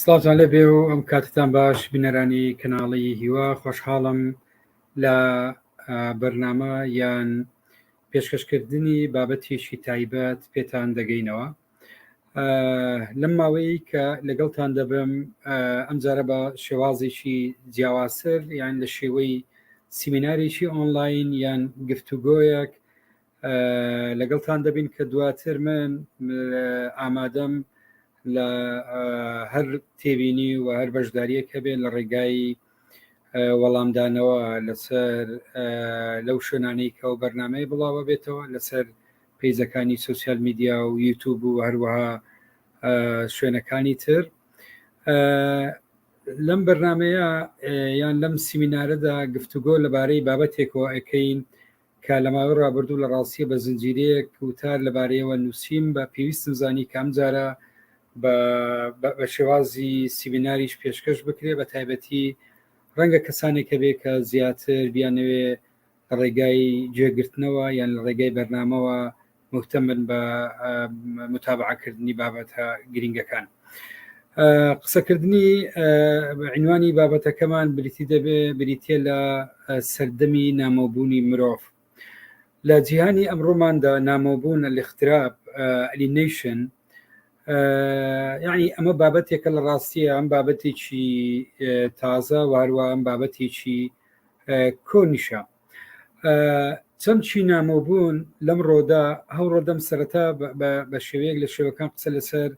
سڵاتان لە بێ و ئەم کاتتان باش بینەرانی کەناڵی هیوا خۆشحاڵم لە بەرنامە یان پێشکەشکردنی بابەتێکی تایبەت پێتان دەگەینەوە لەم ماوەیە کە لەگەڵتان دەبم ئەمجارە بە شێوازێکی جیاواسر یان لە شێوەی سیمینارێکی ئۆنلاین یان گفتوگۆیەک لەگەڵتان دەبین کە دواتر من ئامادەم لە هەر تێبینی و هەر بەشداریەک هەبێت لە ڕێگایی وەڵامدانەوە لەسەر لەو شوێنانەی کە ئەو بەرنمەیە بڵاوە بێتەوە لەسەر پیزەکانی سوسیال میدیا و یوتوب و هەروەها شوێنەکانی تر لەم بەرنمەیە یان لەم سیمینارەدا گفتوگۆ لەبارەی بابەتێکەوە ئەەکەین کە لە ماوەی ڕابردوو لە ڕاستیە بە زنجیرەیەک وتار لەبارەیەوە نووسیم بە پێویستم زانی کام جارە بە شێوازی سیمیناریش پێشکەش بکرێ بە تایبەتی ڕەنگە کەسانێکە بێ کە زیاتر بیانەوێ ڕێگای جێگرتنەوە یان لە ڕێگای بەرنامەوە مهتەم بن بە متابعەکردنی بابەتە گرنگەکان. قسەکردنی عنوانی بابەتەکەمان بریتی دەبێ بریتە لە سەردەمی نامۆبوونی مرۆڤ لە جیهانی ئەمڕۆماندا نامۆبوون الاختراب ئەلینیشن یعنی ئەمە بابەتێکە لە ڕاستیە ئەم بابەتێکی تازە واروە ئەم بابەتێکی کۆنیشە چەمچی نامۆبوون لەم ڕۆدا هەو ڕۆدەم سەرەتا بە شێوەیەک لە شێوەکان قسە لەسەر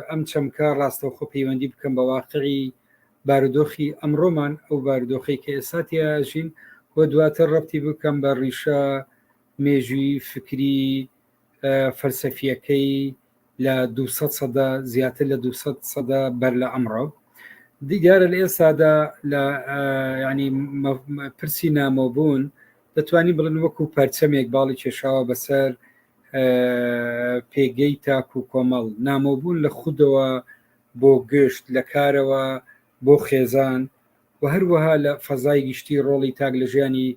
ئەم چەمکە ڕاستەوخۆ پەیوەندی بکەم بە واقعی بارودۆخی ئەمڕۆمان ئەو بارودۆخی کە ئێساتیژین و دواتر ڕەتی بکەم بە ڕیشە مێژووی فکری فەلسەفیەکەی لە دو سەدە زیاتر لە دو سەدە بەر لە ئەمڕۆ دیارە لە ئێستادا لە ینی پرسی نامۆبوون دەتوانین بڵن وەکو پەرچەمێک باڵی کێشاوە بەسەر پێگەی تاک و کۆمەڵ نامۆبوون لە خودەوە بۆ گشت لە کارەوە بۆ خێزان و هەروەها لە فەزای گشتی ڕۆڵی تاک لە ژیانی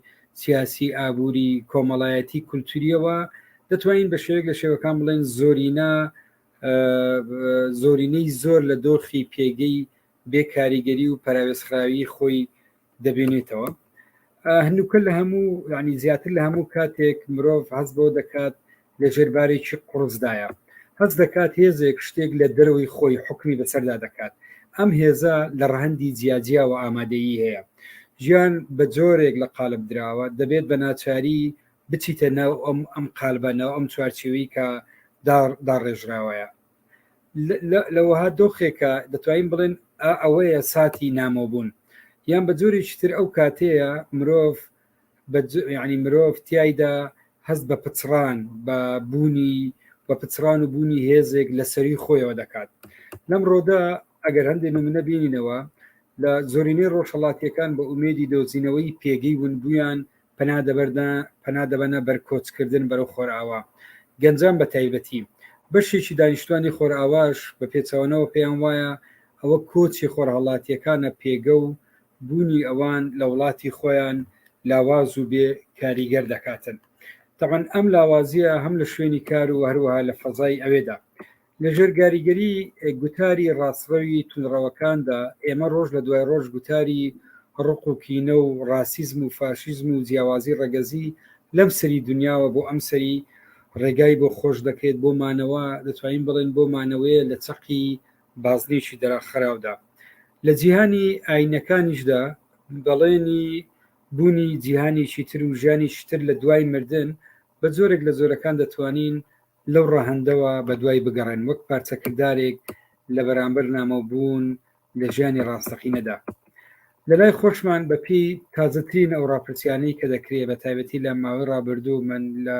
سیاسی، ئابووری، کۆمەڵایەتی، کولتوورییەوە، دەتوانین بە شێوەیەک لە شێوەکان بڵێن زۆرینە زۆرینەی زۆر لە دۆخی پێگەی بێ کاریگەری و پەراوێزخراوی خۆی دەبێنێتەوە. هەنووکە لە هەموو یعنی زیاتر لە هەموو کاتێک مرۆڤ هەست بۆ دەکات لە ژێر بارێکی قوڕسدایە، هەست دەکات هێزێک شتێک لە دەرەوەی خۆی حوکمی بەسەردا دەکات، ئەم هێزە لە ڕەهەندی جیاجیاوە ئامادەیی هەیە. ژیان بە جۆرێک لە قالب دراوە، دەبێت بە ناچاری بچیتە ناو ئەم ئەم قالبە، ناو ئەم چوارچێوەی کە دا داڕێژراوەیە. لە لە وەها دۆخێکە دەتوانین بڵێن ئا ئەوەیە ساتی نامۆبوون، یان بە جۆرێکی تر ئەو کاتەیە مرۆڤ ینی مرۆڤ تایدا هەست بە پچڕان بە بوونی بە پچڕان و بوونی هێزێک لە سەری خۆیەوە دەکات لەم ڕۆدا ئەگەر هەندێک منە بینینەوە لە زۆرینەی ڕۆژهڵاتیەکان بە ئومێدی دۆزینەوەی پێگەی ونبوویان پنا دەبەردە پنا دەبەنە بەرکۆچکردن بەرەو خۆرئاوا گەنجان بە تایبەتی بەشێکی دانیشتوانی خۆرئاواش بە پێچەوەنەوە پێیان وایە ئەوە کۆچی خۆرهڵاتیەکانە پێگە و بوونی ئەوان لە وڵاتی خۆیان لاواز و بێ کاریگەر دەکاتن تەبەن ئەم لاوازیە هەم لە شوێنی کار و هەروەها لە فەزای ئەوێدا لە ژێرگاریگەری گوتاری ڕاستڕەوی تونڕەوەکاندا ئێمە ڕۆژ لە دوای ڕۆژ گوتاری ڕق و کینە و ڕاسیزم و فاشیزم و جیاوازی ڕەگەزی لەم سەری دنیاوە بۆ ئەم سەری ڕێگای بۆ خۆش دەکرێت بۆ مانەوە دەتوانین بڵێن بۆ مانەوەیە لە چەقی بازنەیەکی دەرەخراودا. لە جیهانی ئایینەکانیشدا بەڵێنی بوونی جیهانێکی تر و ژیانێکی تر لە دوای مردن بە جۆرێک لە جۆرەکان دەتوانین لەو ڕەهەندەوە بەدوای بگەڕێن وەک پارچە کردارێک لە بەرامبەر نامۆبوون لە ژیانی ڕاستەقینەدا. لەلای خۆشمان بە پێی تازەترین ئەو ڕاپرسیانەی کە دەکرێ بە تایبەتی لە ماوەی ڕابردوو من لە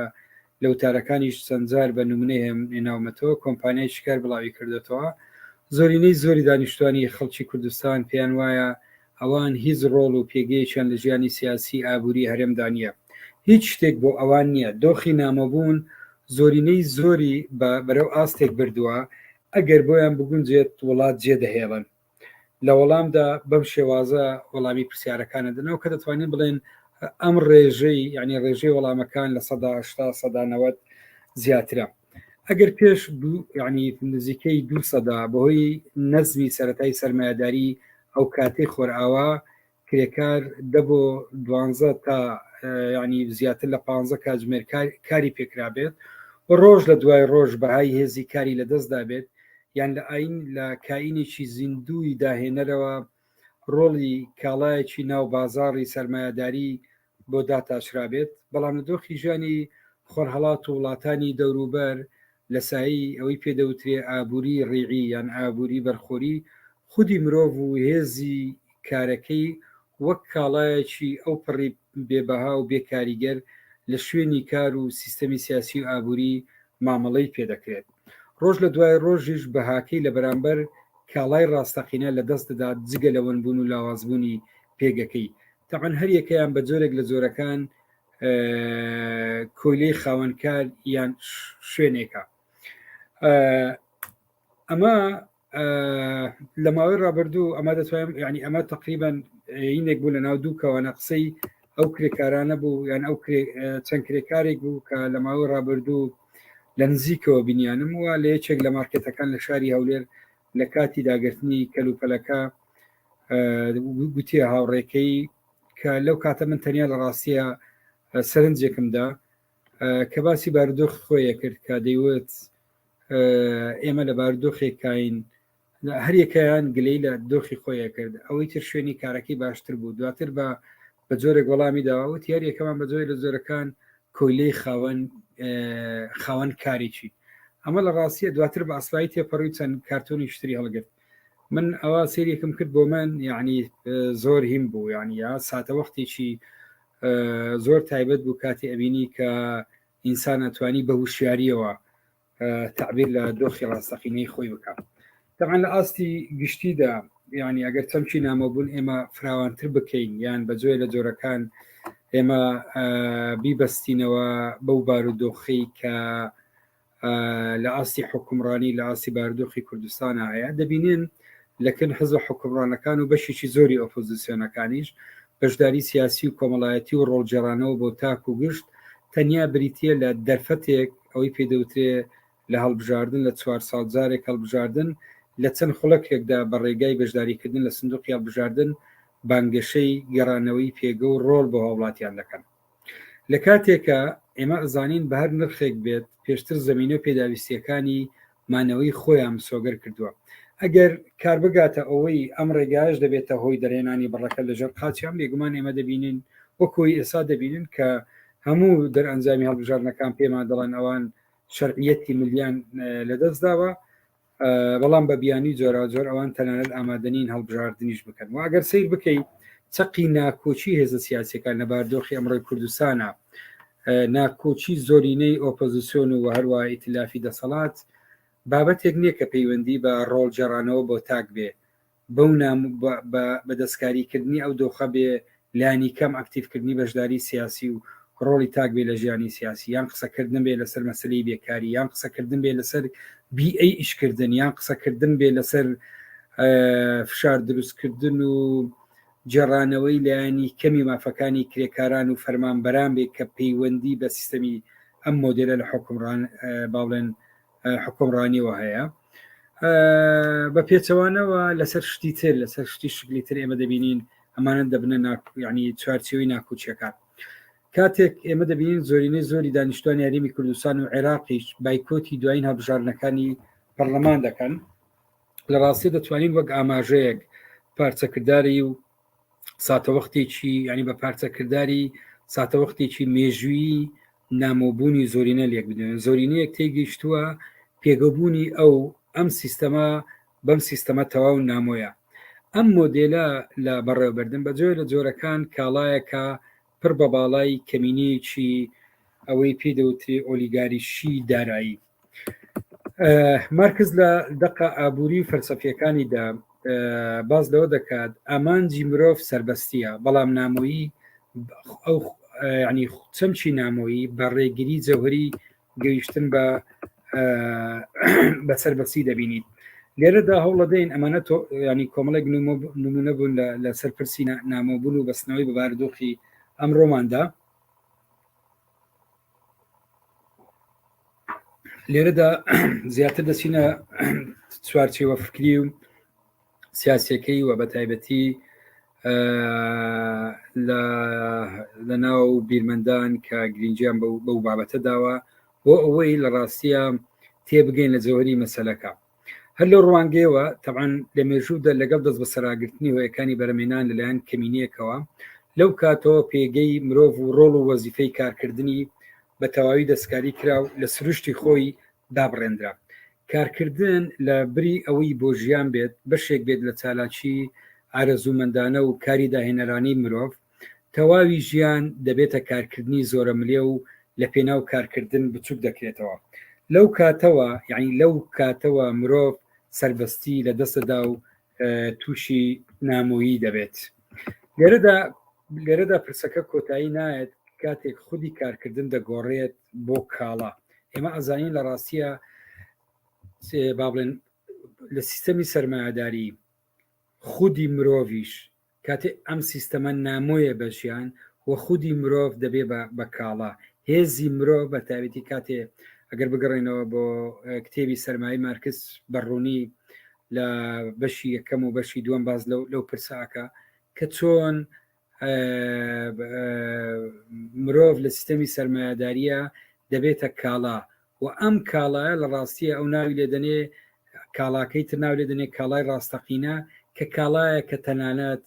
لە وتارەکانیش چەندجار بە نمونەی هێم ناومەتەوە کۆمپانیای شکار بڵاوی کردێتەوە زۆرینەی زۆری دانیشتوانی خەڵکی کوردستان پێیان وایە ئەوان هیچ ڕۆڵ و پێگەیەکیان لە ژیانی سیاسی ئابووری هەرێمدا نییە هیچ شتێک بۆ ئەوان نییە دۆخی نامۆبوون زۆرینەی زۆری بە بەرەو ئاستێک بردووە ئەگەر بۆیان بگونجێت وڵات جێدەهێڵن لە وەڵامدا بەم شێوازە وەڵامی پرسیارەکانە دەنەوە کە دەتوانین بڵێن ئەم ڕێژەی یعنی ڕێژەی وەڵامەکان لە سەدا هشتا سەدانەوەت زیاترە ئەگەر پێش یعنی نزیکەی دو سەدا بەهۆی نەزمی سەتای سەرمایهداری ئەو کاتی خۆرئاوا کرێکار دە بۆ دوانزە تا ینی زیاتر لە پ کاتژمێر کاری پێکرابێت و ڕۆژ لە دوای ڕۆژ بەهای هێزی کاری لە دەستدا بێت یان لە ئاین لە کائینێکی زیندووی داهێنەرەوە ڕۆڵی کاڵایەکی ناو بازاڕی سەرمایهداری بۆ داتاشرابێت، بەڵام لە دۆخی ژیانی خۆرهەڵات و وڵاتانی دەوروبەر لە سایەی ئەوەی پێ دەوترێ ئابووری ڕیعی یان ئابووری بەرخۆری، خودی مرۆڤ و هێزی کارەکەی وەک کاڵایەکی ئەوپەڕی بێ بەها و بێ کاریگەر لە شوێنی کار و سیستەمی سیاسی و ئابووری مامەڵەی پێ دەکرێت. ڕۆژ لە دوای ڕۆژیش بەهاکەی لە بەرامبەر کاڵای ڕاستەقینە لە دەست دەدات، جگە لە ونبوون و لاوازبوونی پێگەکەی، تەبعەن هەر یەکەیان بە جۆرێک لە جۆرەکان کۆیلەی خاوەنکار یان شوێنێکە ئەمە لە ماوەی ڕابردوو ئەمە دەتوانم ینی ئەمە تقریبان هینێک بوو لە ناو دوو کەوانە قسەی ئەو کرێکارانە بوو یان ئەو چەند کرێکارێک بوو کە لە ماوەی ڕابردوو لە نزیکەوە بینیانم وە لە یەکێک لە مارکێتەکان لە شاری هەولێر لە کاتی داگرتنی کەلوپەلەکە گوتیە هاوڕێکەی کە لەو کاتە من تەنیا لە ڕاستیە سەرنجێکمدا کە باسی باردۆخ خۆیە کرد کە دەیوت ئێمە لە باردۆخێک کاین هەریەکەیان گلەی لە دۆخی خۆیە کرد ئەوەی تر شوێنی کارەکەی باشتر بوو دواتر بە بە جۆرێک وەڵامی داوە و تیار یەکەمان بە جۆری لە جۆرەکان کۆیلەی خاوەن خاوەن کارێکی ئەمە لە ڕاستیە دواتر بە ئەسایی تێپەڕی چەند کارتۆنی شتری هەڵگرت من ئەوە سێریەکم کرد بۆ من یعنی زۆر هیم بوو یعنی یا ساتە وەختێکی زۆر تایبەت بوو کاتی ئەبینی کە ئینسان ئەتوانی بە وشیاریەوە تەعبیر لە دۆخی ڕاستەقینەی خۆی بکە دەمان لە ئاستی گشتیدا یعنی ئەگەر چەمکی نامۆبوون ئێمە فراوانتر بکەین یان بە جۆێ لە جۆرەکان ئێمە بیبەستینەوە بەو بارودۆخی کە لە ئاستی حکومڕانی لە ئاسی باردۆخی کوردستان هەیە دەبینێن لەکن حزب حکومڕانەکان و بەشێکی زۆری ئۆپۆزیسیۆنەکانیش بەشداری سیاسی و کۆمەڵایەتی و ڕۆڵجێرانەوە بۆ تاک و گشت تەنیا بریتە لە دەرفەتێک ئەوەی پێ دەوترێ لە هەڵبژاردن لە چوار ساڵ جارێک هەڵبژاردن لە چەند خولەکێکدا بە ڕێگای بەشداریکردن لە سندوقی هەڵبژاردن بانگەشەی گەڕانەوەی پێگە و ڕۆڵ بۆ هاوڵاتیان دەکەن لە کاتێکە ئێمە ئەزانین بە هەر نرخێک بێت پێشتر زمینە پێداویستیەکانی مانەوەی خۆیان مسۆگەر کردووە. ئەگەر کار بگاتە ئەوەی ئەم ڕێگایەش دەبێتە هۆی دەرهێنانی بڕەکە لە ژێر قاچیان، بێگومان ئێمە دەبینین وەکو ئەوەی ئێستا دەبینن کە هەموو دەرئەنجامی هەڵبژاردنەکان پێمان دەڵێن ئەوان شەرعیەتی ملیان لەدەست داوە، بەڵام بە بیانی جۆراوجۆر ئەوان تەنانەت ئامادەنین هەڵبژاردنیش بکەن و ئەگەر سیر بکەیت چەقی ناکۆکی هێزە سیاسەکان لە باردۆخی ئەمڕۆی کوردستانە ناکۆکی زۆرینەی ئۆپۆزیسیۆن و هەروە ئیتلافی دەسەڵات بابەتێک نییە کە پەیوەندی بە ڕۆڵ جێڕانەوە بۆ تاک بێ بەو بە دەستکاریکردنی ئەو دۆخە بێ لانی کەم ئەکتیفکردنی بەشداری سیاسی و ڕۆڵی تاک بێ لە ژیانی سیاسی یان قسەکردن بێ لەسەر مەسلی بێکاری یان قسەکردن بێ لەسەر بی ئەی ئیشکردن یان قسەکردن بێ لەسەر فشار دروستکردن و گێڕانەوەی لایەنی کەمی مافەکانی کرێکاران و فەرمانبەران بێ کە پەیوەندی بە سیستەمی ئەم مۆدێلە لە باڵێن حکومڕانیەوە هەیە بە پێچەوانەوە لەسەر شتی تر لەسەر شتی شکلی تر ئێمە دەبینین ئەمانە دەبنە ینی چوارچەوەی ناکوچیەکان کاتێک ئێمە دەبینین زۆرینەی زۆری دانیشتوان یاریمی کوردستان و عێراقیش بایکۆتی دوایین هەبژارنەکانی پەرلەمان دەکەن لە ڕاستی دەتوانین وەک ئاماژەیەک پارچەکردداری و ساتەوەختێکی ینی بە پارچەکردداری ساتەوەختێکی مێژویی نامۆبوونی زۆرینە لێک بدێن زۆرینەیەک تێگەیشتووە پێگەبوونی ئەو ئەم سیستەما بەم سیستەمە تەواو نامۆیە ئەم مۆدلە لە بەڕێوەبردن بە جۆر لە جۆرەکان کاڵایەکە پڕ بە باڵای کەمینەیەکی ئەوەی پێدەوتری ئۆلیگاریشی دارایی مارکز لە دقە ئابووری و فەرسەفیەکانیدا باز لەوە دەکات ئامانجی مرۆڤ سربەستیە بەڵام نامۆیی ئەو ینی چەمچی نامۆیی بە ڕێگیری جەوهری گەیشتن بە بە سربەستی دەبینیت لێرەدا هەوڵەدەین ئەمانە تۆ ینی کۆمەڵێک نمونە بوون لە سەرپرسی نامۆبوون و بەستنەوەی بەباردۆخی ئەمڕۆماندا لێرەدا زیاتر دەچینە چوارچێوە فکری و سیاسەکەی و بە تایبەتی لە ناو بیرمەندان کە گرنجیان بەو بابەتە داوە بۆ ئەوەی لە ڕاستیە تێبگەین لە جەوەری مەسلەکە هەر لە ڕوانگەیەوە تەعاان لە مێژوودا لەگەڵ دەست بە سەراگرتنی هۆیەکانی بەرەمێنان لەلایەن کەمینەیەکەوە لەو کاتەوە پێگەی مرۆڤ و ڕۆڵ و وەزیفەی کارکردنی بە تەواوی دەستکاری کرا و لە سروشتی خۆی دابڕێنرا کارکردن لە بری ئەوەی بۆ ژیان بێت بەشێک بێت لە چالاکی ئارەزوومەندانە و کاری داهێنەرانی مرۆڤ تەواوی ژیان دەبێتە کارکردنی زۆرەملێ و لە پێناو کارکردن بچوک دەکرێتەوە لەو کاتەوە یعنی لەو کاتەوە مرۆڤ سەربەستی لە دەستەدا و تووشی نامۆیی دەبێت لێرەدا لێرەدا پرسەکە کۆتایی نایەت کاتێک خودی کارکردن دەگۆڕێت بۆ کاڵا ئێمە ئەزانین لە ڕاستیە با بڵێن لە سیستەمی سەرمایهداری خودی مرۆڤش کاتێ ئەم سیستەمە نامۆیە بە ژیان و خودی مرۆڤ دەبێ بە بە کاڵا. هێزی مرۆڤ بە تاوێتی کاتێ ئەگەر بگەڕێنەوە بۆ کتێبی سەرمایەی مارکس بە ڕوونی لە بەشی یەکەم و بەشی دووەم باز لەو لەو پرساکە کە چۆن مرۆڤ لە سیستەمی سەرمایهداریە دەبێتە کاڵا و ئەم کاڵایە لە ڕاستیە ئەو ناوی لێ دەنێ کاڵاکەی تر ناو لێ دەنێ کاڵای ڕاستەقینە کە کاڵایە کە تەنانەت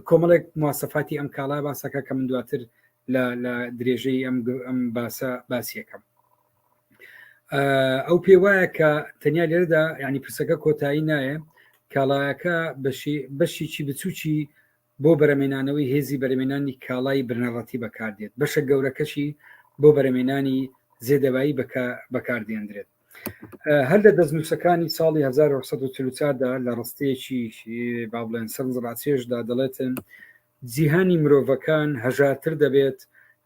کۆمەڵێک مواسەفاتی ئەم کاڵا باسەکە کە من دواتر لە درێژەی ئەم ئەم باسە باسیەکەم ئەو پێ وایە کە تەنیا لێرەدا ینی پرسەکە کۆتایی نایە کاڵایەکە بەشی بەشیی بچووکی بۆ بەرەمێنانەوەی هێزی بەرەمێنانی کاڵای بنەڕەتی بەکاردێت، بەشە گەورەکەشی بۆ بەرەمێنانی زێدەبایی بەکاردێنرێت. هەر لە دەستنووسەکانی ساڵی 1940 دا لە ڕستەیەکی با بڵێن سەرنج ڕاکێشدا دەڵێتن جیهانی مرۆڤەکان هەژارتر دەبێت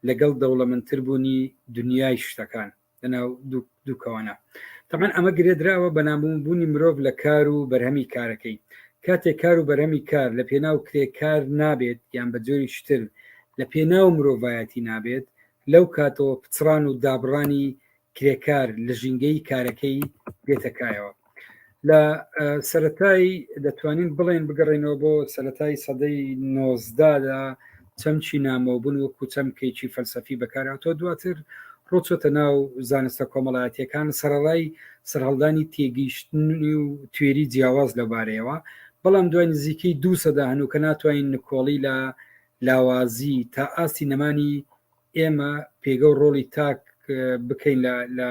لەگەڵ دەوڵەمەندتر بوونی دنیای شتەکان. لەناو دووکەوانە تەمان ئەمە گرێدراوە بە نامبوونی مرۆڤ لە کار و بەرهەمی کارەکەی کاتێک کار و بەرەمی کار لە پێناو کرێکار نابێت یان بە جۆری شتر لە پێناو مرۆڤایەتی نابێت لەو کاتەوە پچڕان و دابڕانی کرێکار لە ژینگەی کارەکەی دێتەکایەوە لە سەتایی دەتوانین بڵێن بگەڕێنەوە بۆ سەتایی سەدەی نۆزدادا چەمچی نامۆبوون وەکو چەمکێکی فەلسەفی بەکاراتۆ دواتر ڕۆچۆتە ناو زانستە کۆمەڵایەتەکان سەرڕای سەرهەڵدانی تێگەیشتنی و توێری جیاواز لەبارەیەوە بەڵام دوای نزیکەی دو سەدا هەنوو کە ناتوانین نکۆڵی لە لاوازی تا ئاستی نەمانی ئێمە پێگە و ڕۆڵی تاک بکەین لە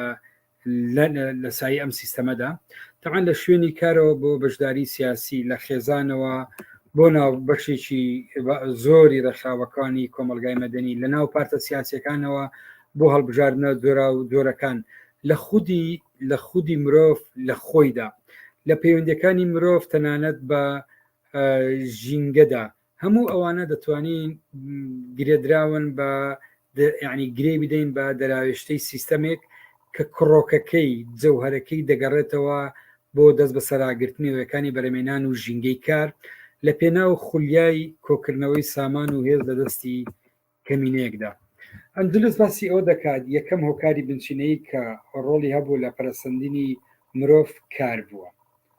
لە سای ئەم سیستەمەدا تەعاان لە شوێنی کارەوە بۆ بەشداری سیاسی لە خێزانەوە بۆ ناو بەشێکی زۆری ڕێکخراوەکانی کۆمەلگای مەدەنی لە ناو پارتە سیاسەکانەوە بۆ هەڵبژاردنە جۆرا و جۆرەکان لە خودی لە خودی مرۆڤ لە خۆیدا لە پەیوەندەکانی مرۆڤ تەنانەت بە ژینگەدا هەموو ئەوانە دەتوانین گرێدراون بە ینی گرێ بدەین بە دەراوێشتەی سیستەمێک کە کڕۆکەکەی جەوهرەکەی دەگەڕێتەوە بۆ دەست بە سەراگرتنی وەکانی بەرەمێنان و ژینگەی کار لە پێناو خولیای کۆکردنەوەی سامان و هێز لە دەستی کەمینەیەکدا. ئەندلوس باسی ئەوە دەکات یەکەم هۆکاری بنچینەیی کە ڕۆڵی هەبوو لە پەرەسەندنی مرۆڤ کار بووە.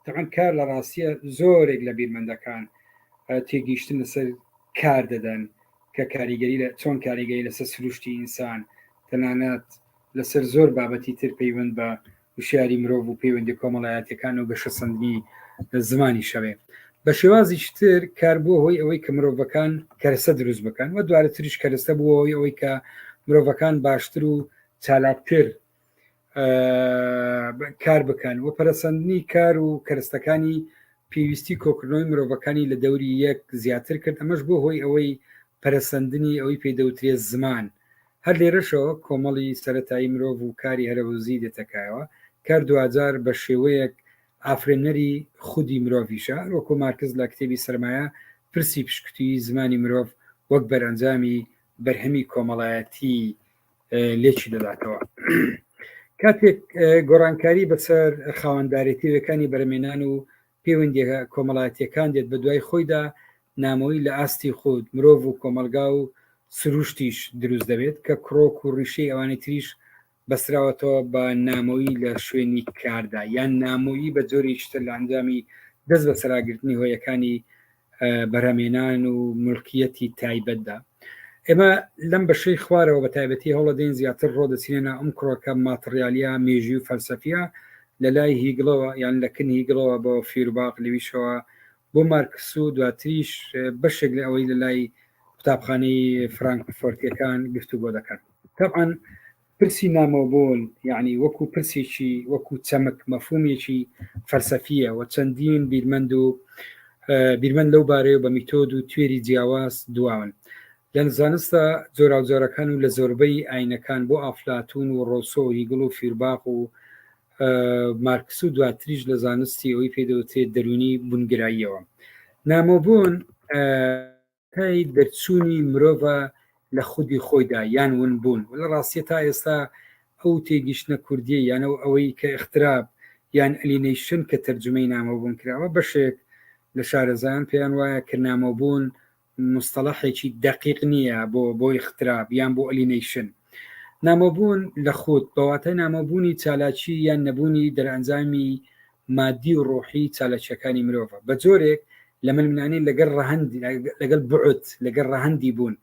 تەبعەن کار لە ڕاستیە زۆرێک لە بیرمەندەکان تێگەیشتن لەسەر کار دەدەن کە کاریگەری لە چۆن کاریگەری لەسەر سروشتی ئینسان تەنانەت لەسەر زۆر بابەتی تر پەیوەند بە وشیاری مرۆڤ و پەیوەندی کۆمەڵایەتیەکان و گەشەسەندنی زمانی شەوێ بە شێوازیش تر کار بووە هۆی ئەوەی کە مرۆڤەکان کەرەسە دروست بکەن و دوارە تریش کەرەسە بووەوەی ئەوەی کە مرۆڤەکان باشتر و چالاکتر کار بکەن و پەرسەندنی کار و کەرستەکانی پێویستی کۆکردنەوەی مرۆڤەکانی لە دەوری یەک زیاتر کرد ئەمەش بۆ هۆی ئەوەی پەرسەندنی ئەوەی پێدەوترێت زمان هەر لێرەشەوە کۆمەڵی سەرەتایی مرۆڤ و کاری هەرەوەزی دێتەکایەوە، کار دواجار بە شێوەیەک ئافرێنەری خودی مرۆڤیشە، هەروەکو مارکس لە کتێبی سەرمایە پرسی پشکوتیی زمانی مرۆڤ وەک بەرئەنجامی بەرهەمی کۆمەڵایەتی لێکی دەداتەوە. کاتێک گۆڕانکاری بەسەر خاوەندارێتی وێکانی بەرەمێنان و پەیوەندییە کۆمەڵایەتییەکان دێت بە دوای خۆیدا، نامۆیی لە ئاستی خود، مرۆڤ و کۆمەڵگا و سرووشتیش دروست دەبێت، کە کرۆک و ڕیشەی ئەوانی تریش بەستراوەتەوە بە نامۆیی لە شوێنی کاردا، یان نامۆیی بە جۆرێکی تر لە ئەنجامی دەست بەسەراگرتنی هۆیەکانی بەرهەمێنان و ملکیەتی تایبەتدا ئێمە لەم بەشەی خوارەوە بە تایبەتی هەوڵە دەین زیاتر ڕۆ دەچینە ئەم کڕۆکە ماتریالیا مێژی و فەلسەفە لە لای هیگڵەوە یان لە کن هیگڵەوە بۆ فیرباق لەویشەوە بۆ مارکس و دواتریش بەشێک لە ئەوەی لە لای قوتابخانەی فرانکفۆرتەکان گفتو بۆ دەکەن تەعاان پرسی نامۆبوون یعنی وەکو پرسێکی وەکو چەمک مەفهومێکی فەلسەفیە و چەندین بیرمەند و بیرمەند لەو بارەیە بە میتۆد و توێری جیاواز دواون لە زانستە جۆراوجۆرەکان و لە زۆربەی ئاینەکان بۆ ئافلاتون و ڕۆسۆ و هیگڵ و فیرباق و مارکس و دواتریش لە زانستی ئەوی پێدەوتێت دەرونی بونگراییەوە نامۆبوون تای دەرچوونی مرۆڤە لە خودی خۆیدا یان ونبوون و لە ڕاستیە تا ئێستا ئەو تێگیشتنە کوردیە یان ئەو ئەوەی کە ئختراب یان ئەلینەیشن کە تەرجمەی نامۆبوون کراوە بەشێک لە شارەزایان پێیان وایە کە نامۆبوون مستەڵەحێکی دەقیق نییە بۆ بۆی ختراب یان بۆ ئەلینەیشن نامۆبوون لە خود بەواتای نامۆبوونی چالاکی یان نەبوونی دەرئەنجامی مادی و ڕۆحی چالاکیەکانی مرۆڤە بەجۆرێک لە ململانێ لەگەل ڕەهەند لەگەل بوعد لەگەل ڕەهەندی بوون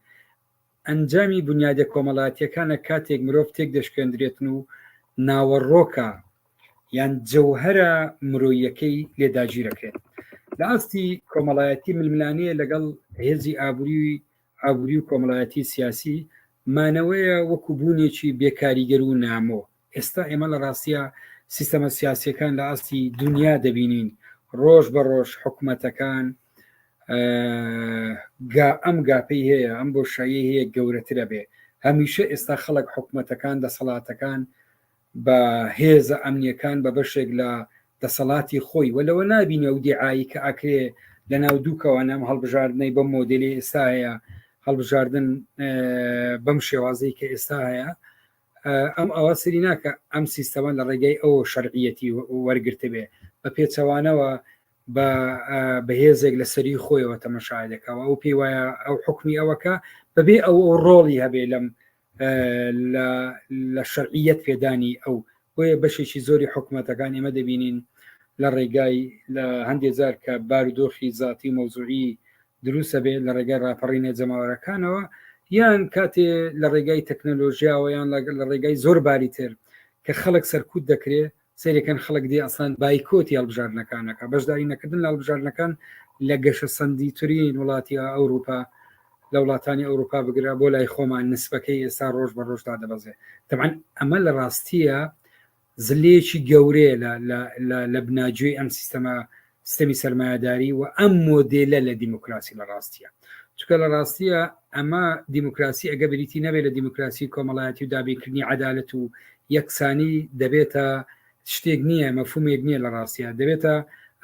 ئەنجامی بنیادە کۆمەلاتیەکانە کاتێک مرۆڤ تێک دەشکێندرێتن و ناوەڕۆکە یان جەوهەرە مرۆیەکەی لێ داگیرەکرێت لە ئاستی کۆمەڵایەتی ململانێ لەگەڵ هێزی ئابووری ئابووری و کۆمەڵایەتی سیاسی مانەوەیە وەکو بوونێکی بێکاریگەر و نامۆ ئێستا ئێمە لە ڕاستیە سیستەمە سیاسیەکان لە ئاستی دنیا دەبینین ڕۆژ بە ڕۆژ حکوومەتەکان گا ئەم گاپی هەیە ئەم بۆ شایی هەیە گەورەترە بێ هەمیشە ئێستا خەڵک حکوومەتەکان دەسەڵاتەکان بە هێزە ئەمنیەکان بە بەشێک لە دەسەڵاتی خۆی و لەوە نبینە و دیعایی کە ئاکرێ لە ناو دووکەوە نەم هەڵبژاردنەی بەم مۆدلی ئێستا هەیە هەڵبژاردن بەم شێوازەی کە ئێستا هەیە ئەم ئەوە سری ناکە ئەم سیستەوە لە ڕێگەی ئەو شەرعەتی وەرگرتبێ بە پێچەوانەوە بە بەهێزێک لە سەری خۆیەوە تەمەشای دەکەوە ئەو پێی وایە ئەو حکمی ئەوەکە بەبێ ئەو ئەو ڕۆڵی هەبێ لەم لە شەرعیت پێدانی ئەو بۆیە بەشێکی زۆری حکوومەتەکان ئێمە دەبینین لە ڕێگای لە هەندێک جار کە بارودۆخی زیاتی مەوزوعی دروستە بێت لە ڕێگای راپەڕینە جەماوەرەکانەوە یان کاتێ لە ڕێگای تەکنەلۆژیاوە یان لە ڕێگای زۆر باری تر کە خەڵک سەرکوت دەکرێت سێرەکەن خەڵک دی ئەسان بایکۆتی هەڵبژاردنەکانەکە بەشداری نەکردن لە هەڵبژاردنەکان لە گەشە سندی ترین وڵاتی ئەوروپا لە وڵاتانی ئەوروپا بگرە بۆ لای خۆمان نسبەکەی ئێستا ڕۆژ بە ڕۆژدا دەبەزێ تەمان ئەمە لە ڕاستیە زلەیەکی گەورەیە لە بناجوێی ئەم سیستەمە سیستەمی سەرمایهداری و ئەم مۆدێلە لە دیموکراسی لە ڕاستیە چکە لە ڕاستیە ئەمە دیموکراسی ئەگە بریتی نەبێت لە دیموکراسی کۆمەڵایەتی و دابینکردنی عدالەت و یەکسانی دەبێتە شتێک نییە مەفومێک نییە لە ڕاستە دەبێتە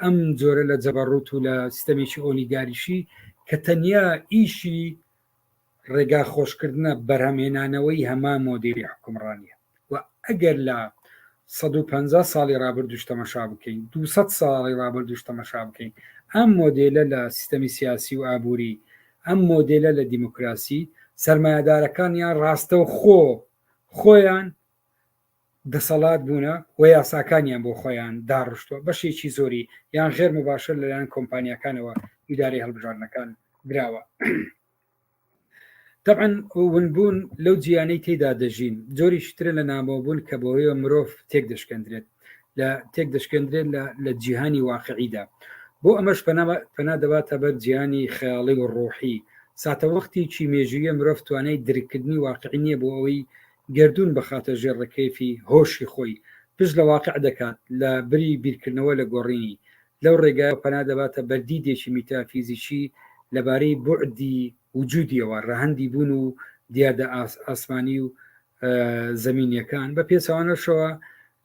ئەم جۆرە لە جەبەڕوت و لە سیستەمێکی ئۆلیگاریشی کە تەنیا ئیشی ڕێگا خۆشکردنە بەرهەمهێنانەوەی هەمان مۆدێلی حوکمڕانیە و ئەگەر لە سەد و پەنجا ساڵی ڕابردووش تەمەشا بکەین دوو سەد ساڵی ڕابردووش تەمەشا بکەین ئەم مۆدێلە لە سیستەمی سیاسی و ئابووری ئەم مۆدێلە لە دیموکراسی سەرمایەدارەکان یان ڕاستەوخۆ خۆیان دەسەڵات بوونە و یاساکانیان بۆ خۆیان داڕشتووە، بەشێکی زۆری یان غێر مباشر لەلایەن کۆمپانیاکانەوە ئیدارەی هەڵبژاردنەکان دراوە. تەبعەن ونبوون لەو جیانەی تێدا دەژین جۆریش ترە لە نامۆبوون کە بۆیە مرۆڤ تێک دەشکەندرێت لە تێک دەشکەندرێت لە جیهانی واقعیدا بۆ ئەمەش پەنا دەباتە بەر جیانی خەیاڵی و ڕۆحی ساتەوەختیی مێژویە مرۆڤ توانای درککردنی واقعی نییە بۆ ئەوەی گەردوون بخاتە ژێر ڕکێفی هۆشی خۆی، پشت لە واقع دەکات لە بری بیرکردنەوە لە گۆڕینی. لەو ڕێگایەوە پەنا دەباتە بەر دیدێکی میتافیزیکی لە بارەی بوعدی وجودییەوە، ڕەهەندی بوون و دیاردە ئاسمانی و زەمینییەکان. بە پێچەوانەشەوە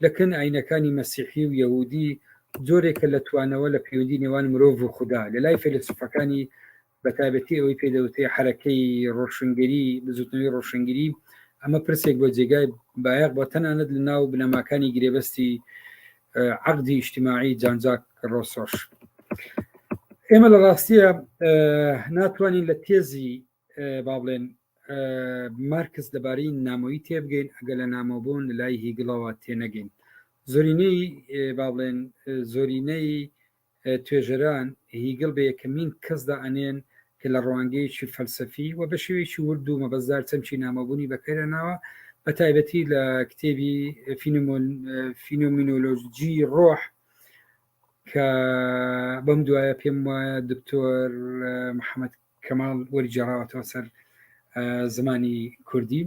لە کن ئایینەکانی مەسیحی و یەهوودی، جۆرێکە لە توانەوە لە پەیوەندی نێوان مرۆڤ و خودا. لە لای فەیلەسوفەکانی بەتایبەتی ئەوەی پێ دەوتێ حرەکەی ڕۆشنگەری بزوتنەوەی ڕۆشنگری ئەمە پرسێک بۆ جێگای بایەق بۆ تەنانەت لە ناو بنەماکانی گرێبەستی عقدی ئیشتیماعی جانجاک ڕۆسۆش ئێمە لە ڕاستیە ناتوانین لە تێزی با بڵێن مارکس دەبارەی نامۆی تێبگەین ئەگە لە نامۆبوون لە لای هیگڵەوە تێنەگەین زۆرینەی با بڵێن زۆرینەی توێژەران هیگڵ بە یەکەمین کەس دا ئەنێن کە لە ڕوانگەیەکی فەلسەفی و بە شێوەیەکی ورد و مەبەستدار چەمکی نامۆبوونی بەکەر هێناوە، بە تایبەتی لە کتێبی فینۆمینۆلۆژیی ڕۆح کە بەم دوایە پێم وایە دکتۆر محەمەد کەماڵ وەری جێڕاوەتەوە سەر زمانی کوردی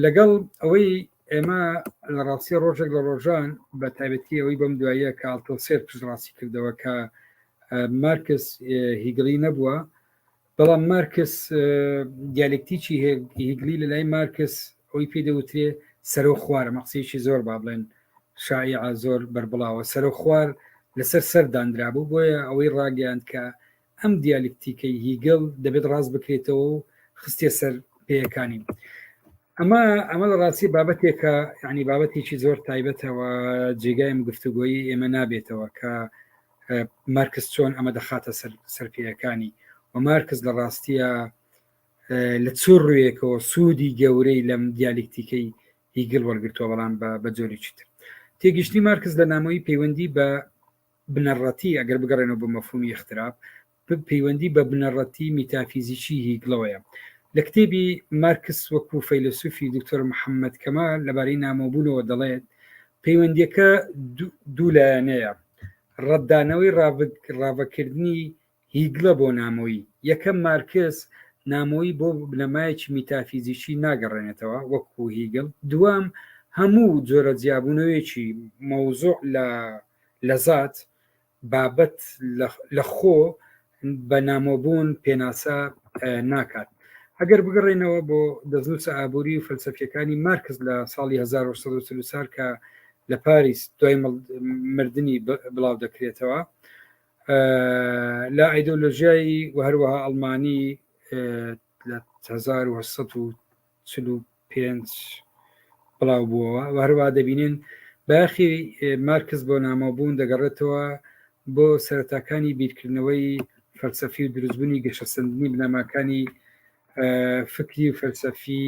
لەگەڵ ئەوەی ئێمە لە ڕاستی ڕۆژێک لە ڕۆژان بە تایبەتی ئەوەی بەم دواییە کاڵتۆ سێر پشتڕاستی کردەوە کە مارکس هیگڵی نەبووە بەڵام مارکس دیالکتیکی هیگلی لە لای مارکس ئەوی پێ دەوترێ سەرۆ خوارە مەقسیکی زۆر با بڵێن شاعە زۆر بربڵاوە سەرۆ خوار لەسەر سەر دانرابوو بۆیە ئەوەی ڕاگەیاند کە ئەم دیالیکتیکەی هیگل دەبێت ڕاست بکرێتەوە و خستێ سەر پێیەکانی ئەمە ئەمە لە ڕاستی بابەتێکە ینی بابەتێکی زۆر تایبەتەوە جێگایم گفتوگۆیی ئێمە نابێتەوە کە مارکس چۆن ئەمە دەخاتە سەر سەرپیەکانی و مارکس لە ڕاستیە لە چۆر ڕوویەکەوە سوودی گەورەی لەم دیالیکتیکەی هیگل وەرگتووە بەڵام بە بە جۆریی تر تێگەشتنی مارکس لە نامۆی پەیوەندی بە بنەڕەتی، ئەگەر بگەڕێنەوە بۆ مەفهوومی ئیختراپ، پەیوەندی بە بنەڕەتی میتافیزیکی هیگڵەوەیە. لە کتێبی، مارکس وەکوو فەیلەسووفی، دوکتۆر محەممەد کەمال لەبارەی نامۆبوونەوە دەڵێت، پەیوەندییەکە دوو لایەنەیە، ڕەتدانەوەی ڕاڤەکردنی هیگلە بۆ نامۆیی، یەکەم مارکس نامۆیی بۆ بنەمایەکی میتافیزیکی ناگەڕێنێتەوە وەکو هیگل، دووەم هەموو جۆرە جیابوونەوەیەکی مەوزوع لە لە زات، بابەت، لە خۆ بە نامۆبوون پێناسە ناکات. ئەگەر بگەڕێینەوە بۆ دەستنووسە ئابووری و فەلسەفییەکانی مارکس لە ساڵی 1940 کە لە پاریس دوای مردنی بڵاودەکرێتەوە، لە ئایدۆلۆژیایی و هەروەها ئەڵمانی لە 1945 بڵاو بووەوە و هەروە دەبینین باخی مارکس بۆ نامۆبوون دەگەڕێتەوە بۆ سەرتاکانی بیرکردنەوەی فەلسەفی و دروستبوونی گەشەسەندنی بنەماکانی فکری و فەلسەفی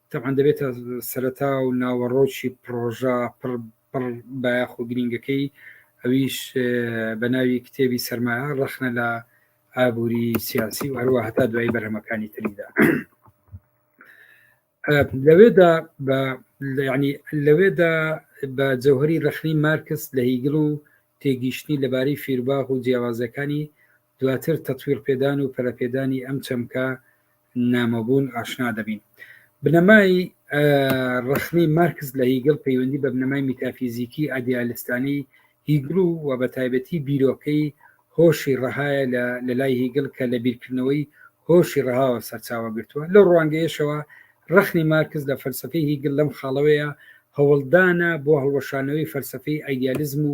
تەبعەن دەبێتە سەرەتا و ناوەڕۆکی پڕۆژە پڕ پڕ بایەخ و گرینگەکەی ئەویش بە ناوی کتێبی سەرمایە ڕەخنە لە ئابووری سیاسی و هەروە هەتا دوای بەرهەمەکانی تریدا لەوێدا بە ینی لەوێدا بە جەوهری ڕخنی مارکس لە هیگل و تێگیشتنی لەبارەی فیرباغ و جیاوازەکانی دواتر تەتویر پێدان و پەرەپێدانی ئەم چەمکە نامۆبوون ئاشنا دەبین. بنەمای ڕەخنەی مارکس لە هیگڵ پەیوەندی بە بنەمای میتافیزیکی ئادیالستانی هیگڵ و و بە تایبەتی بیرۆکەی هۆشی ڕەهایە لە لای هیگڵ کە لە بیرکردنەوەی هۆشی ڕەهاوە سەرچاوە گرتووە لەو ڕوانگەیەشەوە ڕەخنی مارکس لە فەلسەفەی هیگڵ لەم خاڵەوەیە هەوڵدانە بۆ هەڵوەشانەوەی فەلسەفەی ئایدیالیزم و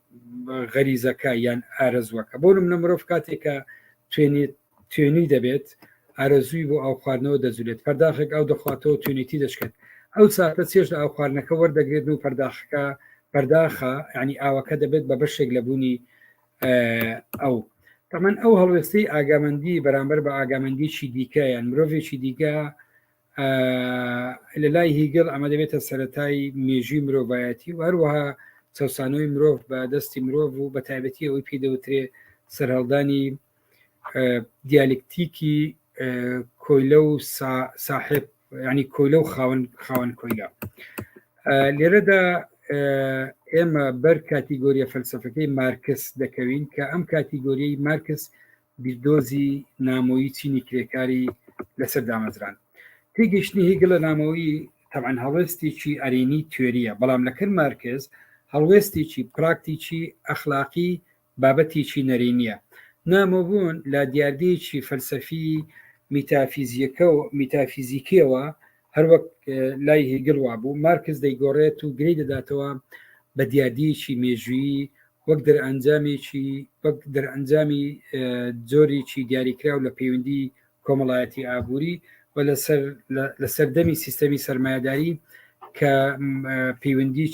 غەریزەکە یان ئارەزوەکە بۆ منە مرۆڤ کاتێکە توێنێت توێنی دەبێت ئارەزووی بۆ ئەو خواردنەوە دەجولێت پەرداخێک ئەو دەخواتەوە توێنێتی دەشکێت ئەو ساتە چێش لە ئەو خواردنەکە وەردەگرێت و پەرداخەکە پەرداخە ینی ئاوەکە دەبێت بە بەشێک لە بوونی ئەو تەمەەن ئەو هەڵوێستەی ئاگامەندی بەرامبەر بە ئاگامەندیی دیکە یان مرۆڤێکی دیکە لە لای هیگل ئەمە دەبێتە سەتای مێژوی مرۆڤایەتی و هەروەها چەسانەوەی مرۆڤ بە دەستی مرۆڤ و بە تایبەتی ئەوەی پێ دەوترێ سەرهەڵدانی دیالکتیکی کۆیلە و ساحب ینی کۆیلە و خاون خاون کۆیلە لێرەدا ئێمە بەر کاتیگۆریە فەلسفەکەی مارکس دەکەوین کە ئەم کاتیگۆریی مارکس بیردۆزی نامۆیی چینی کرێکاری لەسەر دامەزران تێگەشتنی هیگل لە نامۆیی تەعەن هەڵوێستێکی ئەرینی توێریە بەڵام لەکەر مارکز هەڵوێستێکی پراکتیکی ئەخلاقی بابەتێکی نەرینیە نامۆبوون لە دیاردەیەکی فەلسەفی میتافیزیەکە و میتافیزیکیەوە هەروەک لای هیگل وابوو مارکز دەیگۆڕێت و گری دەداتەوە بە دیاردیەکی مێژویی وەک دەرئەنجامێکی وەک دەرئەنجامی جۆرێکی دیاریکراو لە پەیوەندی کۆمەڵایەتی ئابووری و لەسەر لە سەردەمی سیستەمی سەرمایهداری کە پەیوەندیی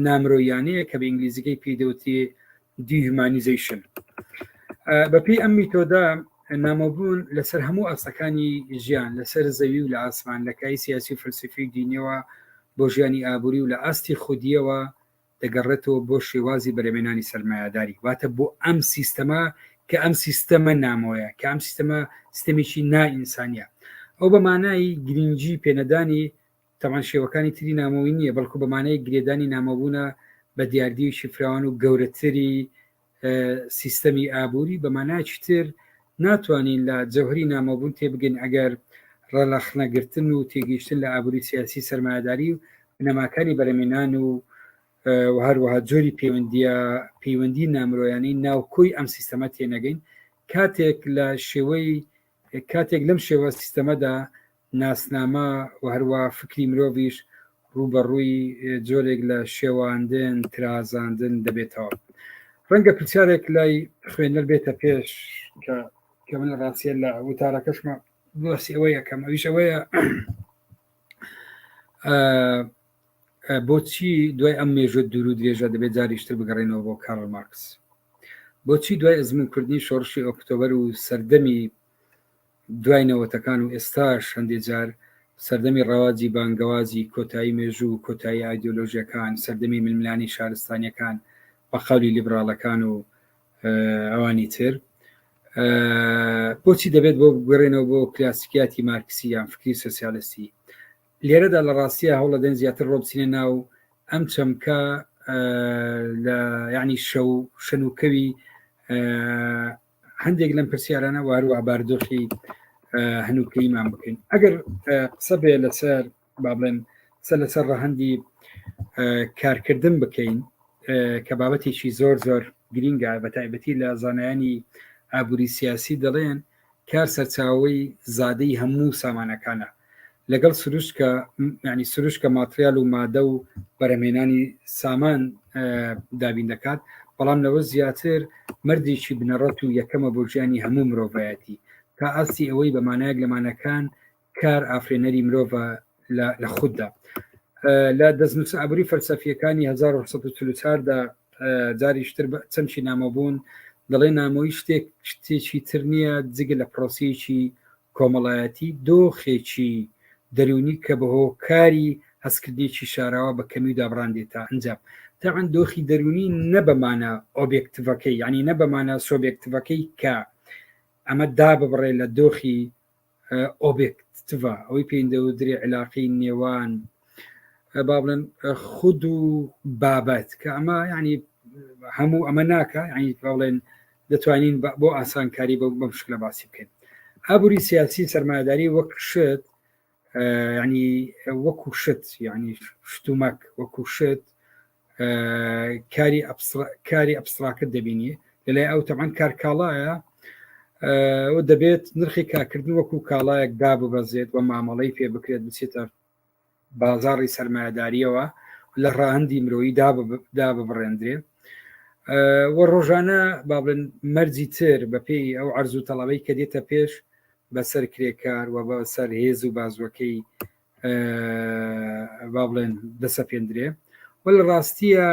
نامرۆیانەیە کە بە ئینگلیزیەکەی پێدەوتێ دیهومانیزەیشن بە پێی ئەم میتۆدا نامۆبوون لەسەر هەموو ئاستەکانی ژیان لەسەر زەوی و لە ئاسمان لە کای سیاسی و فلسفی دینیەوە بۆ ژیانی ئابووری و لە ئاستی خودیەوە دەگەڕێتەوە بۆ شێوازی بەرەمێنانی سەرمایهداری واتە بۆ ئەم سیستەما کە ئەم سیستەمە نامۆیە کە ئەم سیستەمە ستەمێکی نائینسانە ئەو بەمانایی گرنگجی پێنەدانی تەبعەن شێوەکانی تری نامۆیی نییە، بەڵکو بە مانای گرێدانی نامۆبوونە بە دیاردییەکی فراوان و گەورەتری سیستەمی ئابووری، بە مانایەکی تر ناتوانین لە جەوهری نامۆبوون تێبگەین ئەگەر ڕەلەخنەگرتن و تێگەیشتن لە ئابووری سیاسی سەرمایەداری و بنەماکانی بەرەمێنان و و هەروەها جۆری پەیوەندیە پەیوەندی نامرۆیانەی ناوکۆی ئەم سیستەمە تێنەگەین کاتێک لە شێوەی کاتێک لەم شێوە سیستەمەدا ناسنامە و هەروا فکری مرۆڤیش ڕووبەڕووی جۆرێک لە شێواندن ترازاندن دەبێتەوە ڕەنگە پرسیارێک لای خوێنەر بێتە پێش کە کە من ڕاستە لە وتارەکەشمە بۆسی ئەوە یەکەم ئەویش ئەوەیە بۆچی دوای ئەم مێژە دوور و درێژە دەبێت جاریشتر بگەڕێنەوە بۆ کارل مارکس بۆچی دوای ئەزمون کردنی شۆڕشی ئۆکتۆبەر و سەردەمی دوای نەوەتەکان و ئێستاش هەندێک جار سەردەمی ڕەواجی بانگەوازی کۆتایی مێژوو و کۆتایی ئایدۆلۆژیەکان سەردەمی ململانی شارستانیەکان بە قەولی لیبراڵەکان و ئەوانی تر بۆچی دەبێت بۆ بگوێڕێنەوە بۆ کلاسیکیاتی مارکسی یان فکری سوسیالستی لێرەدا لە ڕاستیە هەوڵەدەن زیاتر ڕۆبچینە ناو ئەم چەمکە لە یعنی شەو شەنوکەوی هەندێک لەم پرسیارانە وارو عباردۆخی هەنووکەیمان بکەین ئەگەر قسە بێ لەسەر با بڵێن قسە لەسەر ڕەهندی کارکردن بکەین کە بابەتێکی زۆر زۆر گرینگە بە تایبەتی لە زانایانی ئابووری سیاسی دەڵێن کار سەرچاوەی زادەی هەموو سامانەکانە لەگەڵ سروشکە ینی سروشکە ماتریال و مادە و بەرەمێنانی سامان دابین دەکات بەڵام لەوە زیاتر مردێکی بنەڕەت و یەکەمە بۆ ژیانی هەموو مرۆڤایەتی تا ئاستی ئەوەی بەمانایەک لەمانەکان کار ئافرێنەری مرۆڤە لە خوددا لە دەستنووس ئابووری فەلسەفیەکانی 1940دا جاریشتر چەمچی نامەبوون دەڵێ نامۆی شتێک شتێکی تر نییە جگە لە پرۆسیەکی کۆمەڵایەتی دۆخێکی دەرونی کە بە هۆکاری هەستکردێکی شاراوە بە کەمی و دابڕاندێت تا ئەنجام تاعن دۆخی دەرونی نە بەمانە ئۆبێکتڤەکەی یعنی نە بەمانە سۆبێکتڤەکەی کە ئەمە دا ببڕێ لە دۆخی ئۆبێکتڤە ئەوەی پێیندەوە درێ علاقی نێوان با بڵێن خود و بابەت کە ئەمە ینی هەموو ئەمە ناکە ینی با بڵێن دەتوانین بۆ ئاسانکاری بە بەم شکلە باسی بکەین ئابووری سیاسی سەرمایداری وەک شت ینی وەکو شت ینی شتومەک وەکو شت کاری کاری ئەپسراکت دەبینی لەلای ئەو تەمان کار کاڵایە و دەبێت نرخی کارکردن وەکو کاڵایەک داببەزێت و مامەڵەی پێ بکرێت بچێتە بازاری سەرمایهداریەوە لە ڕاهندی مرۆیی داببڕێندرێ وە ڕۆژانە با بڵێن مەرجی تر بەپێی ئەو ئەرزوو تەڵەوەی کە دێتە پێش بەسەر کرێکار و بەسەر هێز و بازوەکەی با بڵێن دەسەپێندرێ وە لە ڕاستیە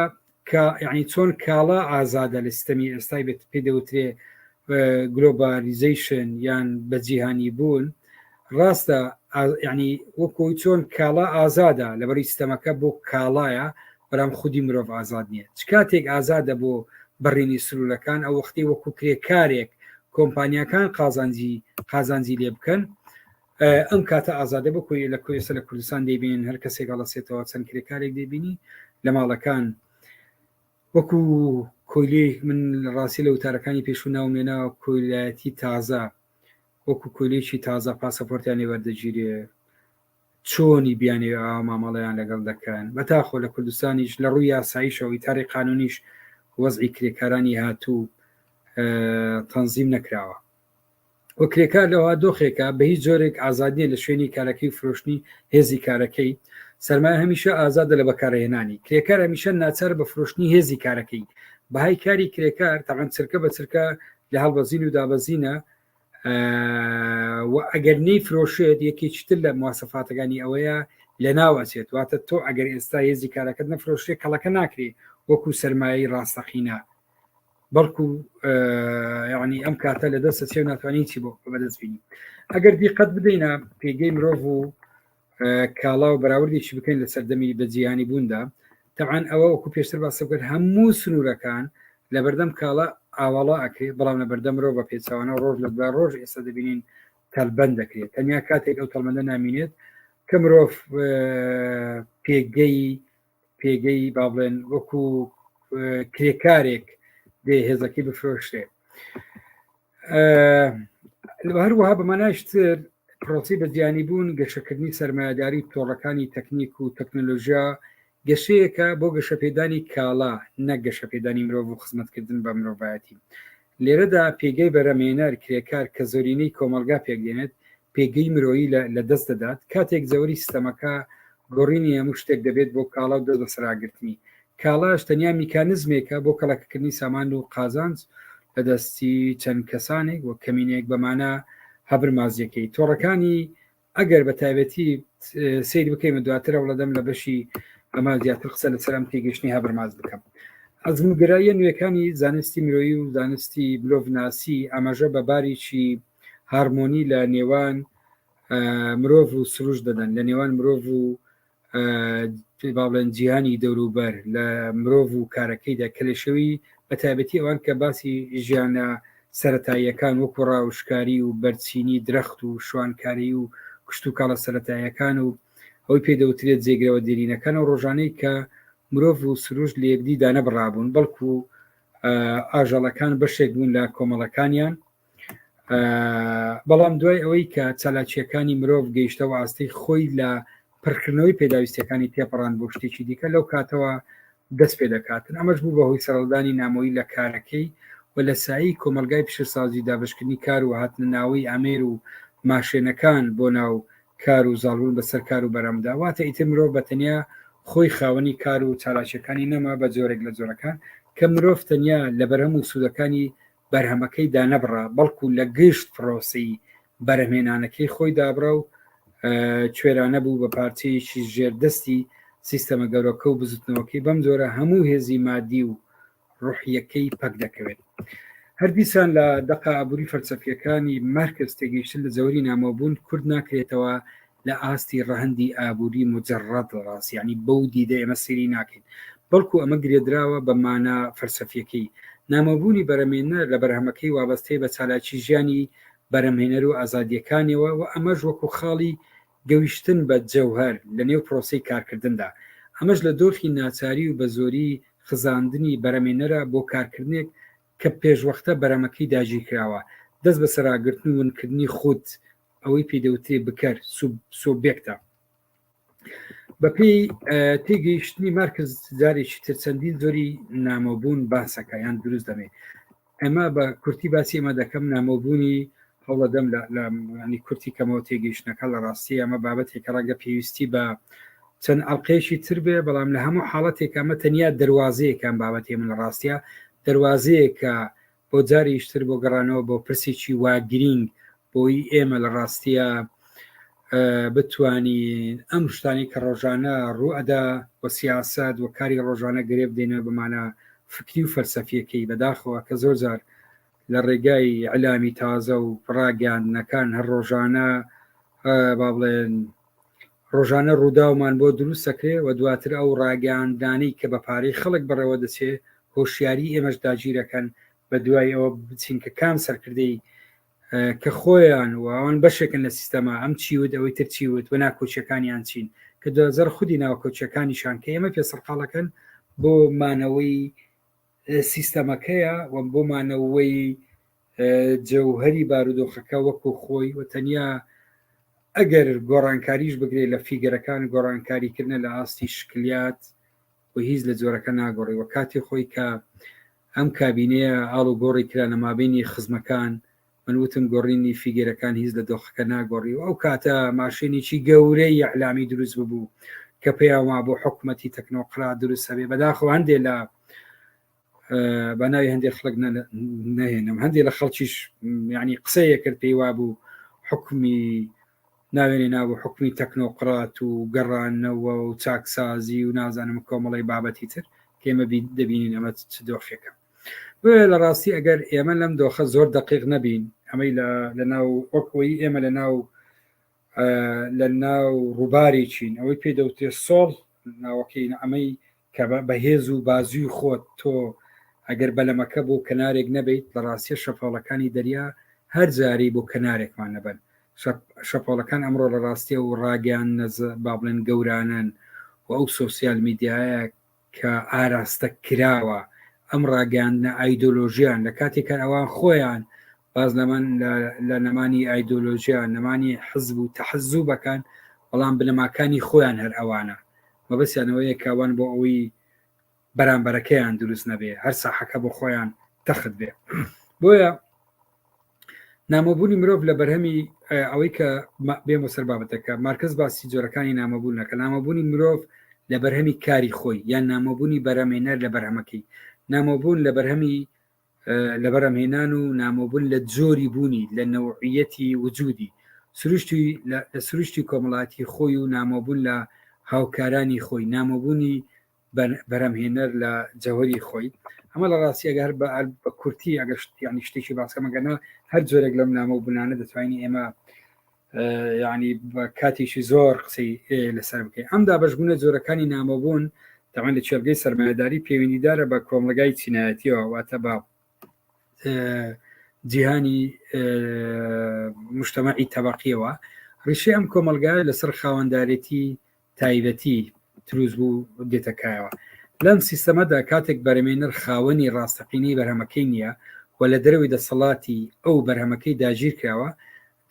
کە یعنی چۆن کاڵا ئازادە لە سیستەمی ئێستای بێت پێ دەوترێ گلۆبالیزیشن یان بەجیهانی بوون ڕاستە ینی وەکۆی چۆن کاڵا ئازادە لەبەری سیستەمەکە بۆ کاڵایە بەرام خودی مرۆڤ ئازاد نییە چ کاتێک ئازادە بۆ بەڕینی سرولەکان ئەو وەختی وەکو کرێکارێک کۆمپانیەکان قازانجی قازانجی لێ بکەن ئەم کاتە ئازادە بۆ کۆی لە کۆیسە لە کوردستان دەیبین هەر کەسێک هەڵەسێتەوە چەند کرێکارێک دەبینی لە ماڵەکان وەکو کۆیلێک من ڕاستی لە وتارەکانی پێشوو ناومێنا کۆیلایەتی تازە وەکو کۆلێکی تازە پاسەپۆرتیان لێوەردەگیرێ چۆنی بیانێ مامەڵەیان لەگەڵ دەکەن بەتاخۆ لە کوردستانیش لە ڕووی یاساییشەوەی تاری قانونیش وەزعی کرێکارانی هاتوو تەنزیم نەکراوە و کرێکار لەوها دۆخێکە بە هیچ جۆرێک ئازادیە لە شوێنی کارەکەی فرۆشتنی هێزی کارەکەی سەرمایە هەمیشە ئازادە لە بەکارهێنانی کرێکار هەمیشە ناچار بە فرۆشتنی هێزی کارەکەی بەهای کاری کرێکار تەعەن چرکە بە چرکە لە هەڵبەزین و دابەزینە و ئەگەر نەی فرۆشێت یەکێکی تر لە مواسەفاتەکانی ئەوەیە لە ناوەچێت واتە تۆ ئەگەر ئێستا هێزی کارەکەت نەفرۆشێ کەڵەکە ناکرێ وەکو سەرمایەی ڕاستەقینە بەڵکو یعنی ئەم کاتە لە دەستە سێ ناتوانانی چی بۆ بەدەست بینی ئەگەر دیقەت بدەینە پێگەی مرۆڤ و کاڵا و بەراوردێکی بکەین لە سەردەمی بەجییانی بووندا تەعاان ئەوە وەکو پێشتر باسە بکەن هەموو سنوورەکان لە بەردەم کاڵا ئاواڵا ئەکرێت بەڵام لە بەردە مرۆڤ بە پێچوانە ڕۆژ لە دوای ڕۆژ ئێستا دەبینین تەلبەند دەکرێت تەنیا کاتێک ئەو تەڵمەندە نامینێت کە مرۆڤ پێگەی پێگەی با بڵێن وەکو کرێکارێک دێ هێزەکەی بفرۆشتێ هەروەها بەماناشتر پرۆسی بەجیانی بوون گەشەکردنی سرمایهداری تۆڕەکانی تەکنیک و تەکنۆلۆژیا گەشەیەکە بۆ گەشەپێدانی کاڵا نە گەشەپێدانی مرۆڤ و خزمەتکردن بە مرۆڤایەتی لێرەدا پێگەی بەرەمێنەر کرێکار کە زۆرینەی کۆمەلگا پێکدێنێت پێگەی مرۆیی لە دەست دەدات کاتێک زەوری سیستەمەکە گۆڕینی هەموو شتێک دەبێت بۆ کاڵا و دەست بەسەراگرتنی کاڵاش تەنیا میکانزمێکە بۆ کەڵەکەکردنی سامان و قازانج لە دەستی چەند کەسانێک و کەمینێک بەمانە هەبر مازیەکەی تۆڕەکانی ئەگەر بە تایبەتی سیر بکەین دواتر ئەوڵە دەم لە بەشی ئەمە زیاتر قسە لە سەرم تێگەشتنی هەبرماز بکەم ئەزمگراییە نوێەکانی زانستی مرۆیی و زانستی بلۆڤناسی ئاماژە بە باریی هارمۆنی لە نێوان مرۆڤ و سروش دەدەن لە نێوان مرۆڤ و باڵێن جیهانی دەوروبەر لە مرۆڤ و کارەکەیدا کە لە شەوی بە تایبەتی ئەوان کە باسی ژیانە سەتاییەکان وەکو ڕاوشکاری و بەرچینی درەخت و شوانکاری و کشت و کاڵە سەتاییەکان و ئەوی پێ دەوترێت جێگرەوە دێرینەکان و ڕۆژانەی کە مرۆڤ و سروش لە یەکدی دانەبڕابوون بەڵکو ئاژەڵەکان بەشێک بوون لە کۆمەڵەکانیان بەڵام دوای ئەوەی کە چالاکیەکانی مرۆڤ گەیشتەوە ئاستی خۆی لە پڕکردنەوەی پێداویستەکانی تێپەڕان بۆ شتێکی دیکە لەو کاتەوە دەست پێ دەکاتن ئەمەش بوو بەهۆی سەرڵدانی نامۆی لە کارەکەی و لە سایی کۆمەلگای پیشەسازی دابشکردنی کار و هاتنە ناوەی ئامێر و ماشێنەکان بۆ ناو کار و زاڵبوون بەسەر کار و بەرەمدا واتە ئیتر مرۆڤ بە تەنیا خۆی خاوەنی کار و چالاکیەکانی نەما بە جۆرێک لە جۆرەکان کە مرۆڤ تەنیا لە بەرەم و سوودەکانی بەرهەمەکەی دانەبڕا بەڵکو لە گشت پرۆسەی بەرهەمێنانەکەی خۆی دابڕا و کوێرانە بوو بە پارچەیەکی ژێردەستی سیستەمە گەورەکە و بزوتنەوەکەی بەم جۆرە هەموو هێزی مادی و ڕوحیەکەی پەک دەکەوێت هەردیسان لە دەقا ئابووری فەلسەفیەکانی مارکس تێگەیشتن لە جەوری نامۆبوون کورد ناکرێتەوە لە ئاستی ڕەهەندی ئابووری موجەڕەد ڕاست یانی بەو دیدە ئێمە سەیری ناکەین بەڵکو ئەمە گرێدراوە بە مانا فەلسەفیەکەی نامۆبوونی بەرەمێنەر لە بەرهەمەکەی وابەستەی بە چالاکی ژیانی بەرەمێنەر و ئازادیەکانیەوە و ئەمەش وەکو خاڵی گەویشتن بە جەوهەر لە نێو پرۆسی کارکردندا ئەمەش لە دۆخی ناچاری و بە زۆری خزاندنی بەرەمێنەرە بۆ کارکردنێک کە پێشوەختە بەرەمەکەی داگیرکراوە دەست بە سەراگرتن و ونکردنی خود ئەوەی پێی دەوترێ بکەر سۆبێکتە بەپی تێگەیشتنی مارکز جارێکی تر چەندین زۆری نامۆبوون باسەکە یان دروست دەمێ ئەمە بە کورتی باسی ئەمە دەکەم نامۆبوونی هەوڵەدەم لە ینی کورتی کەمەوە تێگەیشتنەکە لە ڕاستی ئەمە بابەتێکە ڕەنگە پێویستی بە چەند ئەڵلقێکی تر بێ بەڵام لە هەموو حاڵەتێک ئەمە تەنیا دەواازەیەکان بابەتی من لە ڕاستە دەواازەیە کە بۆ جاریش تر بۆ گەڕانەوە بۆ پرسێکی وا گرینگ بۆی ئێمە لە ڕاستیە بتانی ئەم شتانی کە ڕۆژانە ڕوئەدا و سیاست و کاری ڕۆژانە گرێ بدەینە بمانە فکری و فەلسەفیەکەی بەداخەوە کە زۆر جار لە ڕێگای علامی تازە و ڕاگەاندنەکان هەر ڕۆژانە با بڵێن ڕۆژانە ڕووداومان بۆ دروست دەکرێ و دواتر ئەو ڕاگەیاندنانەی کە بە پارەی خەڵک بەڕێوە دەچێ هۆشیاری ئێمەش داگیرەکەن بە دوای ئەوە بچین کە کام سەرکردەی کە خۆیان و ئەوان بەشێکن لە سیستەما ئەم چی وت ئەوەی تر چی وت و ناکۆچیەکانیان چین کە دوزەر خودی ناوکۆچیەکانیشان کە ئێمە پێ سەرقاڵەکەن بۆ مانەوەی سیستەمەکەیە و بۆ مانەوەی جەوهەری بارودۆخەکە وەکو خۆی و تەنیا ئەگەر گۆڕانکاریش بگرێت لە فیگەرەکان گۆڕانکاریکردە لە ئاستی شکلیات و هیچ لە جۆرەکە ناگۆڕی و کاتی خۆی کە ئەم کابینەیە ئاڵ و گۆڕی کرا لە مابینی خزمەکان من وتم گۆڕینی فیگەرەکان هیچ لە دۆخەکە ناگۆڕی و ئەو کاتە ماشێنێکی گەورەی یەعلامی دروست ببوو کە پێیان وا بۆ حکوومەتی تەکنۆقرا دروست هەبێ بەداخۆ هەندێ لە بە ناوی هەندێک خلک نەهێنم هەندێک لە خەڵکیش ینی قسەیە کرد پێی وابوو حکمی ناوێنێ نابوو حکمی تەکنۆقرات و گەڕانەوە و چاکسازی و نازانم کۆمەڵی بابەتی تر کێمە دەبینین ئەمە چ دۆخێکە بێ لە ڕاستی ئەگەر ئێمە لەم دۆخە زۆر دقیق نەبین ئەمەی لە ناو وەکۆی ئێمە لە ناو لە ناو ڕووبارێکین ئەوەی پێ دەوتێ سۆڵ ناوەکەین ئەمەی کە بە هێز و بازووی خۆت تۆ ئەگەر بەلەمەکە بۆ کەنارێک نەبیت لە ڕاستیە شەپۆڵەکانی دەریا هەر جارەی بۆ کەنارێکمان نەبەن شەپۆڵەکان ئەمڕۆ لە ڕاستیە و ڕاگەیان نەز با بڵێن گەورانن و ئەو سۆسیال میدیایە کە ئاراستە کراوە ئەم ڕاگەاندنە ئایدۆلۆژیان لە کاتێکە ئەوان خۆیان باس لەمن لە نەمانی ئایدۆلۆژیا نەمانی حزب و تەحزوبەکان بەڵام بنەماکانی خۆیان هەر ئەوانە مەبەسیانەوەیە کاوان بۆ ئەوەی بەرامبەرەکەیان دروست نەبێ هەر ساحەکە بۆ خۆیان تەخت بێ بۆیە نامۆبوونی مرۆڤ لە بەرهەمی ئەوەی کە بێمە سەر بابەتەکە مارکز باسی جۆرەکانی نامەبوونەکە نامەبوونی مرۆڤ لە بەرهەمی کاری خۆی یان نامۆبوونی بەرەمێنەر لە بەرهەمەکەی نامۆبوون لە بەرهەمی لە بەرەمهێنان و نامۆبوون لە جۆری بوونی لە نەوعیەتی وجودی سروشتی لە سروشتی کۆمەڵاتی خۆی و نامۆبوون لە هاوکارانی خۆی نامۆبوونی بەرەمهێنەر لە جەوەری خۆی ئەمە لە ڕاستی ئەگەر بە بە کورتی ئەگەر ینی شتێکی باسکەمەگەنا هەر جۆرێک لەم نامۆ بنانە دەتوانین ئێمە یعنی بە کاتێکی زۆر قسەی لەسەر بکەین ئەم دابشبوونە جۆرەکانی نامۆبوون داوان لە چێلگەی سەرمایهداری پەیوەندیدارە بە کۆمەلگای چینایەتیەوە واتە بە جیهانی مشتمەعی تەبقیەوە ڕیشی ئەم کۆمەلگای لەسەر خاوەندارێتی تایبەتی تروز بوو دێتە کایەوە لەم سیستەمەدا کاتێک بەرەمێنەر خاوەنی ڕاستەقینەی بەرهەمەکەی نییە و لە دەرەوەی دەسەڵاتی ئەو بەرهەمەکەی داگیر کراوە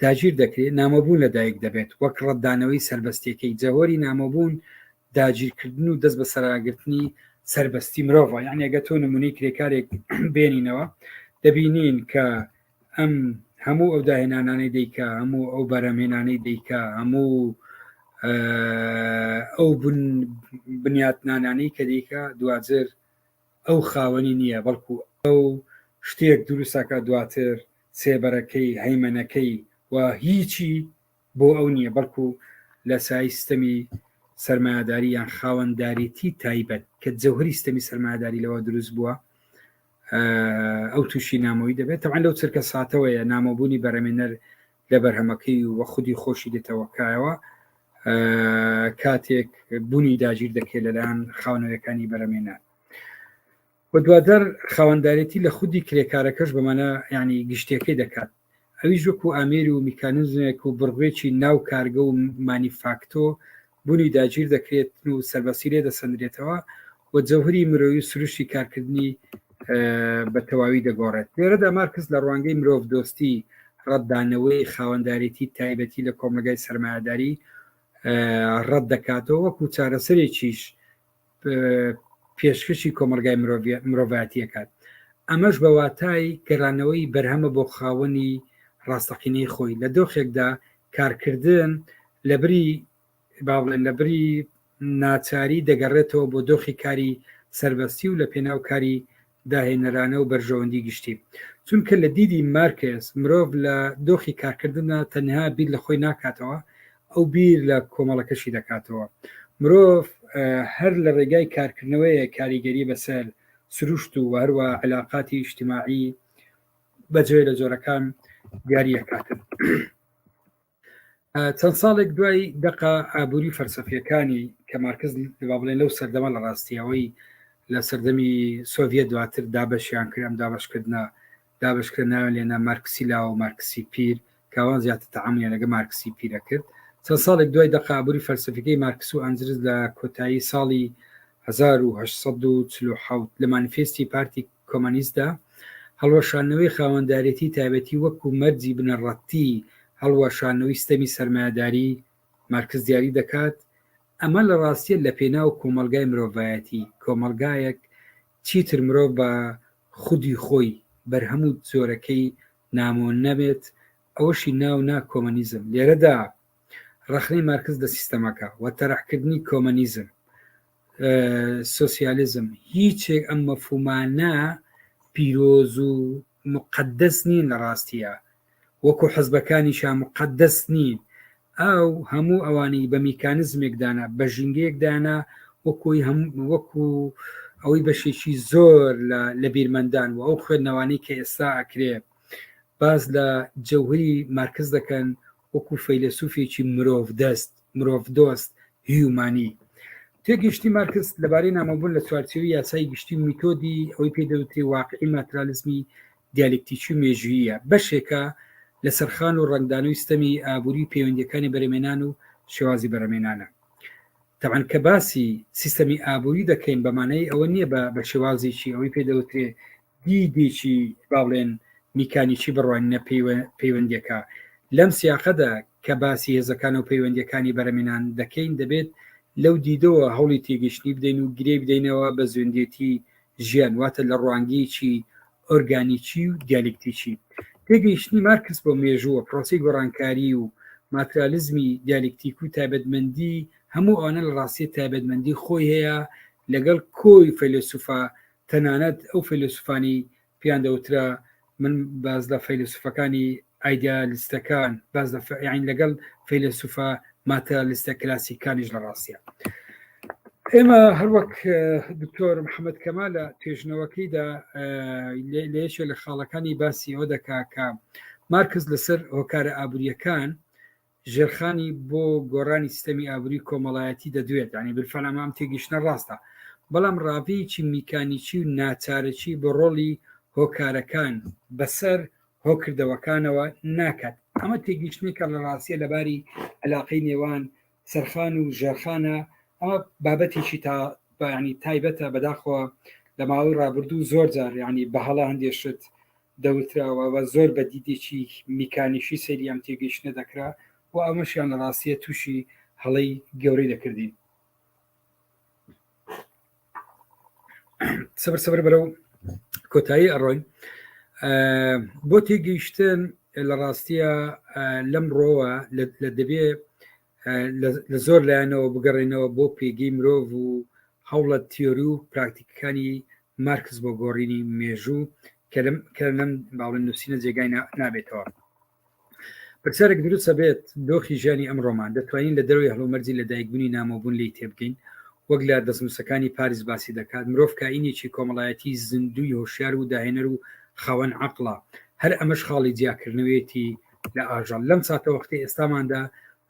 داگیر دەکرێت نامۆبوون لەدایک دەبێت وەک ڕەتدانەوەی سربەستیەکەی جەهۆری نامۆبوون داگیرکردن و دەست بە سەراگرتنی سربەستی مرۆڤ یان ێگە تۆ نمونی کرێکارێک بێنینەوە دەبینین کە ئەم هەموو ئەو داهێنانانەی دەیکا هەموو ئەو بەرەمێنانەی دەیکا هەموو ئەو بنیاتنانانەی کە دیکە دوجر ئەو خاوەنی نییە بەڵکو ئەو شتێک دروستەکە دواتر سێبەرەکەی هەیمەنەکەی و هیچی بۆ ئەو نییە بەڵکو لە سای ستەمی سەرمایەداری یان خاوەنداریتی تایبەت کە جەوهری ستەمی سەرمایەداری لەوە دروست بووە ئەو تووشی نامۆی دەبێت تەوان لەو چرکە ساتەوەیە نامۆبوونی بەرەمێنەر لە بەرهەمەکەی وە خودی خۆشی دێتەوەکایەوە کاتێک بوونی داگیر دەکرێت لەلایەن خاونەوەکانی بەرەمێنەر و دواتر خاوەندارێتی لە خودی کرێکارەکەش بەمانە ینی گشتەکەی دەکات ئەویش وەکو ئامێری و میکانزمێک و بڕێکی ناو کارگە و مانیفاکتۆ بوونی داگیر دەکرێت و سەربەسی لێ دەسەندرێتەوە و جەوهری مرۆوی سروشی کارکردنی بە تەواوی دەگۆڕێت لێرەدا مارکس لە ڕوانگەی مرۆڤ دۆستی ڕەتدانەوەی خاوەندارێتی تایبەتی لە کۆمەگای سرمایهداری ڕەت دەکاتەوە وەکو چارەسەرێکیش پێشکەشی کۆمەلگای مرۆڤاتیەکات ئەمەش بە واتای گەرانەوەی بەرهەمە بۆ خاوەنی ڕاستەقینەی خۆی لە دۆخێکدا کارکردن لە بری با بڵێن لە بری ناچاری دەگەڕێتەوە بۆ دۆخی کاری سربەستی و لە پێناو کاری داهێنەرانە و بەرژەوەندی گشتی چونکە لە دیدی مارکێس مرۆڤ لە دۆخی کارکردندا تەنها بیر لە خۆی ناکاتەوە ئەو بیر لە کۆمەڵەکەشی دەکاتەوە مرۆڤ هەر لە ڕێگای کارکردنەوەیە کاریگەری بەسەر سروشت و هەروە علااقاتی ئیشتیماعی بەجێ لە جۆرەکان دیاریەکاتن. چەند ساڵێک دوای دقا ئابووری فەرسەفیەکانی کە مارکز با بڵێن لەو سەردەمە لە ڕاستیەوەی لە سەردەمی سۆڤە دواتر دابەشیان کرد ئەم دابشکردە دابشکرە ناوێن لێنا مارکسی لاوە و مارکسی پیر کاوان زیاتر تەعامیان لەگە مارکسی پیرە کرد چەند ساڵێک دوای دەقابووری فەرسەفەکەی مارکس و ئەنجرز لە کۆتایی ساڵی 1940 لە مانیفستی پارتی کۆمۆنیستدا، هەڵوەشاندنەوەی خاوەندارێتی تایبەتی وەکو مەرجی بنەڕەتی هەڵوەشاندنەوەی ستەمی سەرمایەداری مارکس دیاری دەکات، ئەمە لە ڕاستیە لە پێناو کۆمەڵگای مرۆڤایەتی، کۆمەڵگایەک چیتر مرۆڤ بە خودی خۆی بەرهەم و جۆرەکەی نامۆ نەبێت، ئەوەشی ناو نا کۆمۆنیزم، لێرەدا. ڕەخنەی مارکس لە سیستەمەکە و تەرحکردنی کۆمەنیزم سوسیالیزم هیچێک ئەم مەفومانە پیرۆز و مقدەس نین لە ڕاستیە وەکو حەزبەکانی شا مقدەس نین ئەو هەموو ئەوانی بە میکانزمێکدانە بە ژینگەیەکدانە وەکوی هەم وەکو ئەوەی بەشێکی زۆر لە بیرمەندان و ئەو خوێندنەوانی کە ئێستا ئەکرێ باز لە جەوهری مارکز دەکەن وەکوو فەیلەسووفێکی مرۆڤدەست، مرۆڤدۆست، هیومانی. تێگەیشتنی مارکس لەبارەی نامۆبوون لە چوارچێوەی یاسای گشتی و میتۆدی ئەوەی پێ دەوترێ واقعی ماترالیزمی دیالکتیکی و مێژووییە، بەشێکە لە سەرخان و ڕەنگدانەوەی ستەمی ئابووری و پەیوەندییەکانی بەرەمێنان و شێوازی بەرەمێنانە. تەبعەن کە باسی سیستەمی ئابووری دەکەین بە مانای ئەوە نییە بە بە شێوازێکی ئەوەی پێ دەوترێ دیدێکی با بڵێن میکانیکی بڕوانینە پەیوەندیەکە لەم سیاقەدا کە باسی هێزەکان و پەیوەندیەکانی بەرەمێنان دەکەین دەبێت لەو دیدەوە هەوڵی تێگەشتنی بدەین و گرێ بدەینەوە بە زوێندێتی ژیان واتە لە ڕوانگەیەکی ئۆرگانیکی و دیالکتیکی تێگەیشتنی مارکس بۆ مێژووە پرۆسی گۆڕانکاری و ماترالیزمی دیالکتیک و تایبەتمەندی هەموو ئەوانە لە ڕاستی تایبەتمەندی خۆی هەیە لەگەڵ کۆی فەیلسوفا تەنانەت ئەو فەیلەسوفانی پێیان دەوترا من باس لە فەیلەسوفەکانی ئایدیالیستەکان باس لە یعنی لەگەڵ فەیلەسوفە ماتەلیستە کلاسیکانیش لە ڕاستە ئێمە هەروەک دکتۆر محەممەد کەما لە توێژنەوەکەیدا لەیەکێ لە خاڵەکانی باسی ئەوە دەکا کە مارکز لەسەر هۆکارە ئابوووریەکان ژێرخانی بۆ گۆڕانی سیستەمی ئابووری کۆمەڵایەتی دەدوێت یانی بالفعل ئەمە ئەم تێگەیشتنە ڕاستە بەڵام ڕاڤەیەکی میکانیکی و ناچارەکی بۆ ڕۆڵی هۆکارەکان بەسەر هۆکردەوەکانەوە ناکات ئەمە تێگەیشتنێکە لە ڕاستیە لەباری علاقەی نێوان سەرخان و ژێرخانە ئەمە بابەتێکی تا بەیانی تایبەتە بەداخەوە لە ماوەی ڕابردوو زۆر جار یانی بەهەڵە هەندێشت دەوتراوە و زۆر بە دیدێکی میکانیکی سەیری ئەم تێگەیشتنە دەکرا و ئەمەشیان لە ڕاستیە تووشی هەڵەی گەورەی دەکردین. سەبر سەبر بەرەو کۆتایی ئەڕۆین بۆ تێگەیشتن لە ڕاستیە لەم ڕۆوە لە دەبێ لە زۆر لایەنەوە بگەڕێنەوە بۆ پێگەی مرۆڤ و هەوڵە تیۆری و پراکتیکەکانی مارکس بۆ گۆڕینی مێژوو کە لەم باڵن نووسینە جێگای نابێتەوە پرسیارێک دروستە بێت دۆخی ژیانی ئەم ڕۆمان دەتوانین لە دەروی هەڵومەرجی لە دایکبوونی نامۆبوون لی تێبگەین وەک لە دەستنووسەکانی پاریس باسی دەکات مرۆڤ کاینێکی کۆمەڵایەتی زیندوی هۆشیار و داهێنەر و خاوەن عقلڵە هەر ئەمەش خاڵی جیاکردنەوەیەتی لە ئاژەڵ لەم ساتەوەختی ئێستاماندا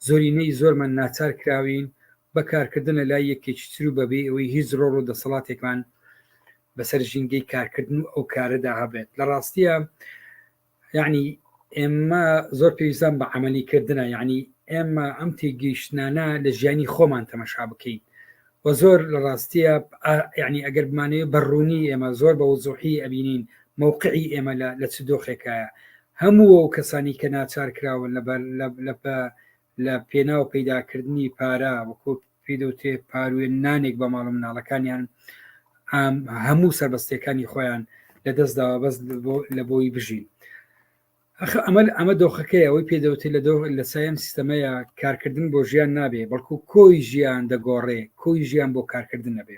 زۆرینەی زۆرمان ناچار کراوین بە کارکردن لە لای یەکێکی تر و بەبێ ئەوەی هیچ ڕۆڵ و دەسەڵاتێکمان بەسەر ژینگەی کارکردن و ئەو کارەدا هەبێت لە ڕاستیە یعنی ئێمە زۆر پێویستان بە عملیکردنە یعنی ئێمە ئەم تێگەیشتانە لە ژیانی خۆمان تەمەشا بکەین و زۆر لە ڕاستیە یعنی ئەگەر بمانەیە بەڕوونی ئێمە زۆر بە وزۆحی ئەبینین مووقعی ئێمە لە چ دۆخێکایە هەموو ئەو کەسانی کە ناچار کراون لە بە لە بە لە پێناو پەیدا کردنی پارە وەکۆ پێی دەوترێ پاروێن نانێک بە ماڵە مناڵەکانیان ئام هەموو سەربەستیەکانی خۆیان لە دەست داوە بەس لە بۆی بژین ئەخ ئەمە ئەمە دۆخەکەی ئەوەی پێ دەوتێت لە دۆخ لە سایم سیستەمەیە کارکردن بۆ ژیان نابێ بەڵکو کۆی ژیان دەگۆڕێ کۆی ژیان بۆ کارکردن نەبێ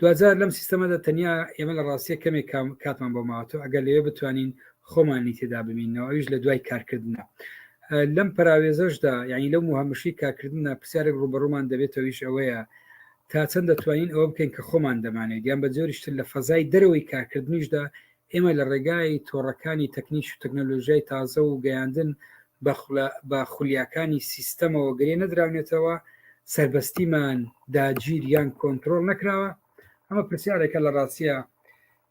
دوجار لەم سیستەمەدا تەنیا ئێمە لە ڕاستیە کەمێک کاتمان بۆ ماوەتە ئەگەر لەوێ بتوانین خۆمانی تێدا ببینەوە ئەویش لە دوای کارکردە لەم پراوێزەشدا یعنی لەو مهمشی کارکردە پرسیارێک ڕوبەڕومان دەبێتەوەیش ئەوەیە تا چەند دەتوانین ئەوە بکەین کە خۆمان دەمانێت یان بە جۆریشتر لە فەزای دەرەوەی کارکردنیشدا ئێمە لە ڕێگای تۆڕەکانی تەکنیک و تەکنەلۆژیای تازە و گەیاندن بە خولیاکانی سیستەمەوە گرێ نەدراونێتەوە، سەربەستیمان داگیر یان کۆنتترۆل نەکراوە، ئەمە پرسیارێکە لە ڕاستە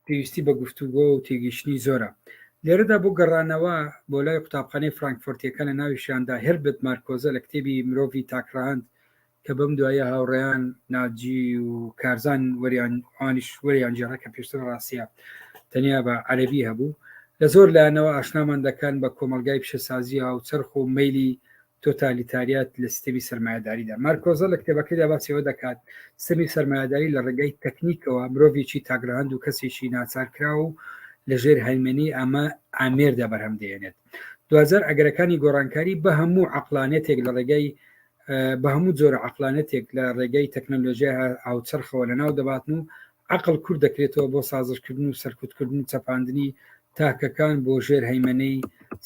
پێویستی بە گفتوگۆ و تێگەیشتنی زۆرە. لێرەدا بۆ گەڕانەوە بۆ لای قوتابخانەی فرانکفۆرتییەکە لە ناویشیاندا هێربرت مارکۆزە لە کتێبی مرۆڤی تاکڕەهەند کە بەم دواییە هاوڕێیان ناجی و کارزان وەریان ئەوانیش وەریان گێڕا کە پێشتر ڕاستە تەنیا بە عەرەبی هەبوو لە زۆر لایەنەوە ئاشنامان دەکەن بە کۆمەلگای پیشەسازی هاوچەرخ و مەیلی تۆتالیتاریات لە سیستەمی سەرمایەداریدا مارکۆزە لە کتێبەکەیدا باسیەوە دەکات سەمی سەرمایەداری لە ڕێگەی تەکنیکەوە مرۆڤێکی تاگرهند و کەسێکی ناچارکرا و لەژێر هەیمەنی ئەمە ئامێردا بەرهەم دێنێت دوجار ئەگەرەکانی گۆڕانکاری بە هەموو عقلانێتێک لە ڕێگەی بە هەموو جۆرە عقلانەتێک لە ڕێگەی تەکنەلۆژیای هاوچەرخەوە لە ناو دەباتن و عقل کورد دەکرێتەوە بۆ سازشکردن و سەرکوتکردن و چەپاندنی تاکەکان بۆ ژێر هەیمەەی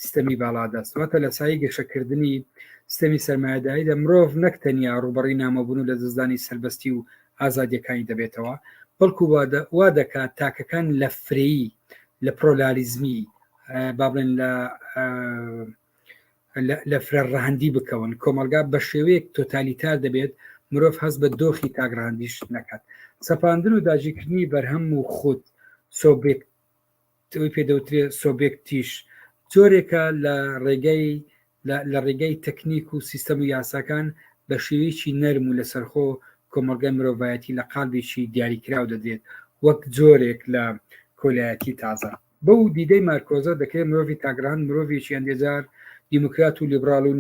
سیستەمی باڵادەست واتە لە سای گەشەکردنی سیستەمی سەرمایهداییدا مرۆڤ نەک تەنیا ڕوبڕی نامەبوون و لە دەستدانی سربەستی و ئازادیەکانی دەبێتەوە بەڵکو وا دەکات تاکەکان لە فرەیی لە پرۆلاریزمی با بڵێن لە لە فرە ڕەهندی بکەون کۆمەلگا بە شێوەیەک تۆتالیتار دەبێت مرۆڤ هەست بە دۆخی تاگرانندیش نەکات سەپاندن و داجیکردنی بەرهەم و خود سۆبێک تەوەی پێدەوترێ سۆبێکتیش جۆرێکە لە ڕێگەی لە ڕێگەی تەکنیک و سیستەم و یاساکان بە شێوەیەکی نەرم و لەسەرخۆ کۆمەلگای مرۆڤایەتی لە قالبێکی دیاریکراو دەدرێت وەک جۆرێک لە کۆلایەتی تازە بەو دیدەی مارکۆزە دەکرێت مرۆڤی تاگڕان مرۆڤێکی ئەندێجار دیموکرات و لیبراڵ و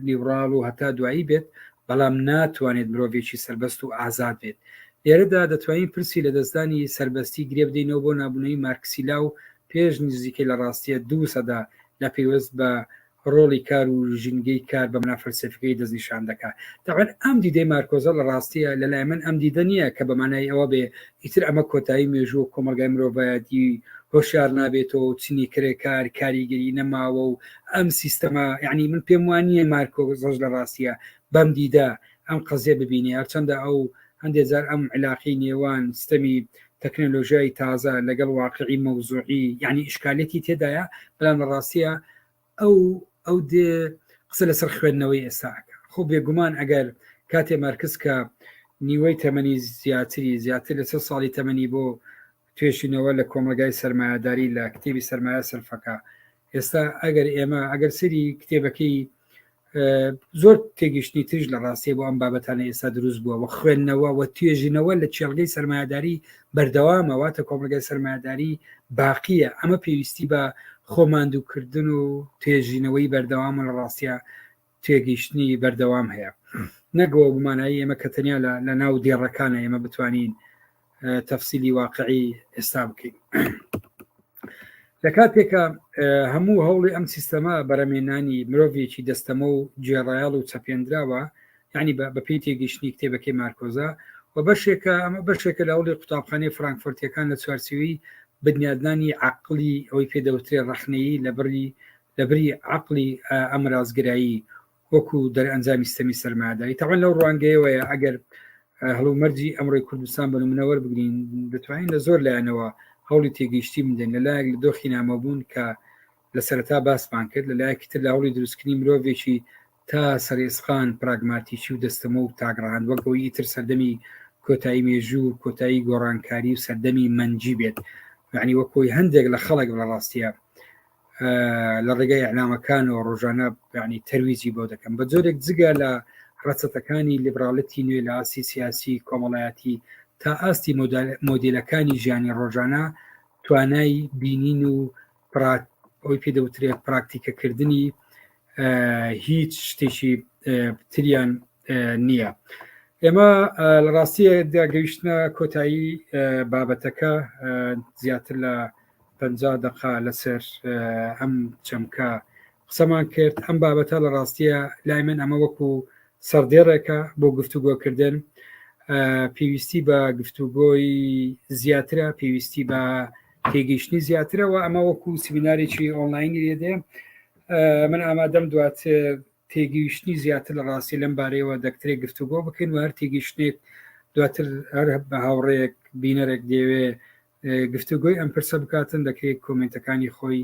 نیوڕاڵ و هەتا دوایی بێت بەڵام ناتوانێت مرۆڤێکی سەربەست و ئازاد بێت لێرەدا دەتوانین پرسی لە دەستدانی سەربەستی گرێ بدەینەوە بۆ نابوونەوەی مارکسیلا و پێش نزیکەی لە ڕاستیە دوو سەدا لە پەیوەست بە ڕۆڵی کار و ژینگەی کار بە مەنا فەلسەفیەکەی دەستنیشان دەکات. تەبعەن ئەم دیدەی مارکۆزە لە ڕاستیە لە لای من ئەم دیدە نیە کە بە مانای ئەوە بێ ئیتر ئەمە کۆتایی مێژوو و کۆمەڵگای مرۆڤایەتی هۆشیار نابێتەوە و چنی کرێکار کاریگەری نەماوە و ئەم سیستەمە یعنی من پێم وان نیە مارکۆزەش لە ڕاستیە بەم دیدە ئەم قەزیە ببینێ هەرچەندە ئەو هەندێ جار ئەم علاقی نێوان ستەمی تەکنەلۆژیای تازە لەگەڵ واقعی مەوزوعی یعنی ئیشکالێتی تێدایە بەڵام لە ڕاستیە ئەو ئەو دێ قسە لەسەر خوێندنەوەی ئێستاکە خۆ بێگومان ئەگەر کاتێ مارکس کە نیوەی تەمەنی زیاتری زیاتر لەسەر ساڵی تەمەنی بۆ توێشینەوە لە کۆمەلگای سرمایهداری لە کتێبی سرمایە سلفەکە ئێستا ئەگەر ئێمە ئەگەر سری کتێبەکەی زۆر تێگەشتنی تریش لە ڕاستێ بۆ ئەم بابەتانە ئێستا دروست بووە و خوێندنەوە و توێژینەوە لە چێلگەی سرمایهداری بەردەوامەواتە کۆمەلگای سرمایهداری باقیە ئەمە پێویستی بە خۆماندووکردن و توێژینەوەی بەردەوامە لە ڕاستە تێگەیشتنی بەردەوام هەیە نەک بەوە بمانایی ئێمە کە تەنیا لە ناو دێڕەکانە ئێمە بتوانین تەفسیلی واقعی ئێستا بکەین لە کاتێکە هەموو هەوڵی ئەم سیستەما بەرەمێنانی مرۆڤێکی دەستەمە و جێڕایال و چەپێنراوە یعنی بە پێی تێگەیشتنی کتێبەکەی مارکۆزا و بەشێکە ئەمە بەشێکە لە هەوڵی قوتابخانەی فرانکفرتەکان لە چوارچوی بنیادنانی عقلی ئەوەی پێدەوترێ ڕخنەیی لە بڕی لە بری عەقڵی ئامرازگرایی وەکو دەرئەنجامی ستەمی سەرماداری تاوان لەو ڕوانگەیەوەیە ئەگەر هەڵو مەرجی ئەمڕۆی کوردستان بە منەوەەر بگرین دەتوانین لە زۆر لایەنەوە هەوڵی تێگەیشتی بدەن لە لایەک لە دۆخی نامەبوون کە لە سەرتا باسمان کرد لە لایەکی تر لە هەوڵی دروستکردنی مرۆڤێکی تا سەرئێسقان، پراگماتیکی و دەستەمۆ و تاک ڕەهەند وەک ئەوەی ئیتر سەردەمی کۆتایی مێژوو و کۆتایی گۆڕانکاری و سەردەمی مەنجی بێت، یانی وەک کۆی هەندێک لە خەڵک لە ڕاستیە لە ڕێگای ئەنامەکانەوە ڕۆژانە یانی تەرویجی بۆ دەکەم بە جۆرێک جگە لە ڕەچەتەکانی لیبراڵەتی نوێ لە ئاسی سیاسی کۆمەڵایەتی تا ئاستی مۆدیلەکانی ژیانی ڕۆژانە توانای بینین و ئەوی پێ دەوترێت پراکتیکەکردنی هیچ شتێکی تریان نییە ئێمە لە ڕاستیە داگەیشتە کۆتایی بابەتەکە زیاتر لە پ دقا لەسەر ئەم چەمکە قسەمان کرد ئەم بابەتە لە ڕاستیە لای من ئەمە وەکو سەردێڕێکە بۆ گفتوگۆکردن پێویستی بە گفتوگۆی زیاترە پێویستی بە تێگەیشتنی زیاترەوە ئەمە وەکو سمینارێکی ئۆنلاینی لێدێ من ئامادەم دوات تێگەیشتنی زیاتر لە ڕاستی لەم بارەیەوە دەکترێک گفتوگۆ بکەین و هەر تێگەیشتێک دواتر هەر بە هاوڕێک بینەرێک دەوێ گفتوگۆی ئەم پرسە بکاتن دەکرێت کۆمنتەکانی خۆی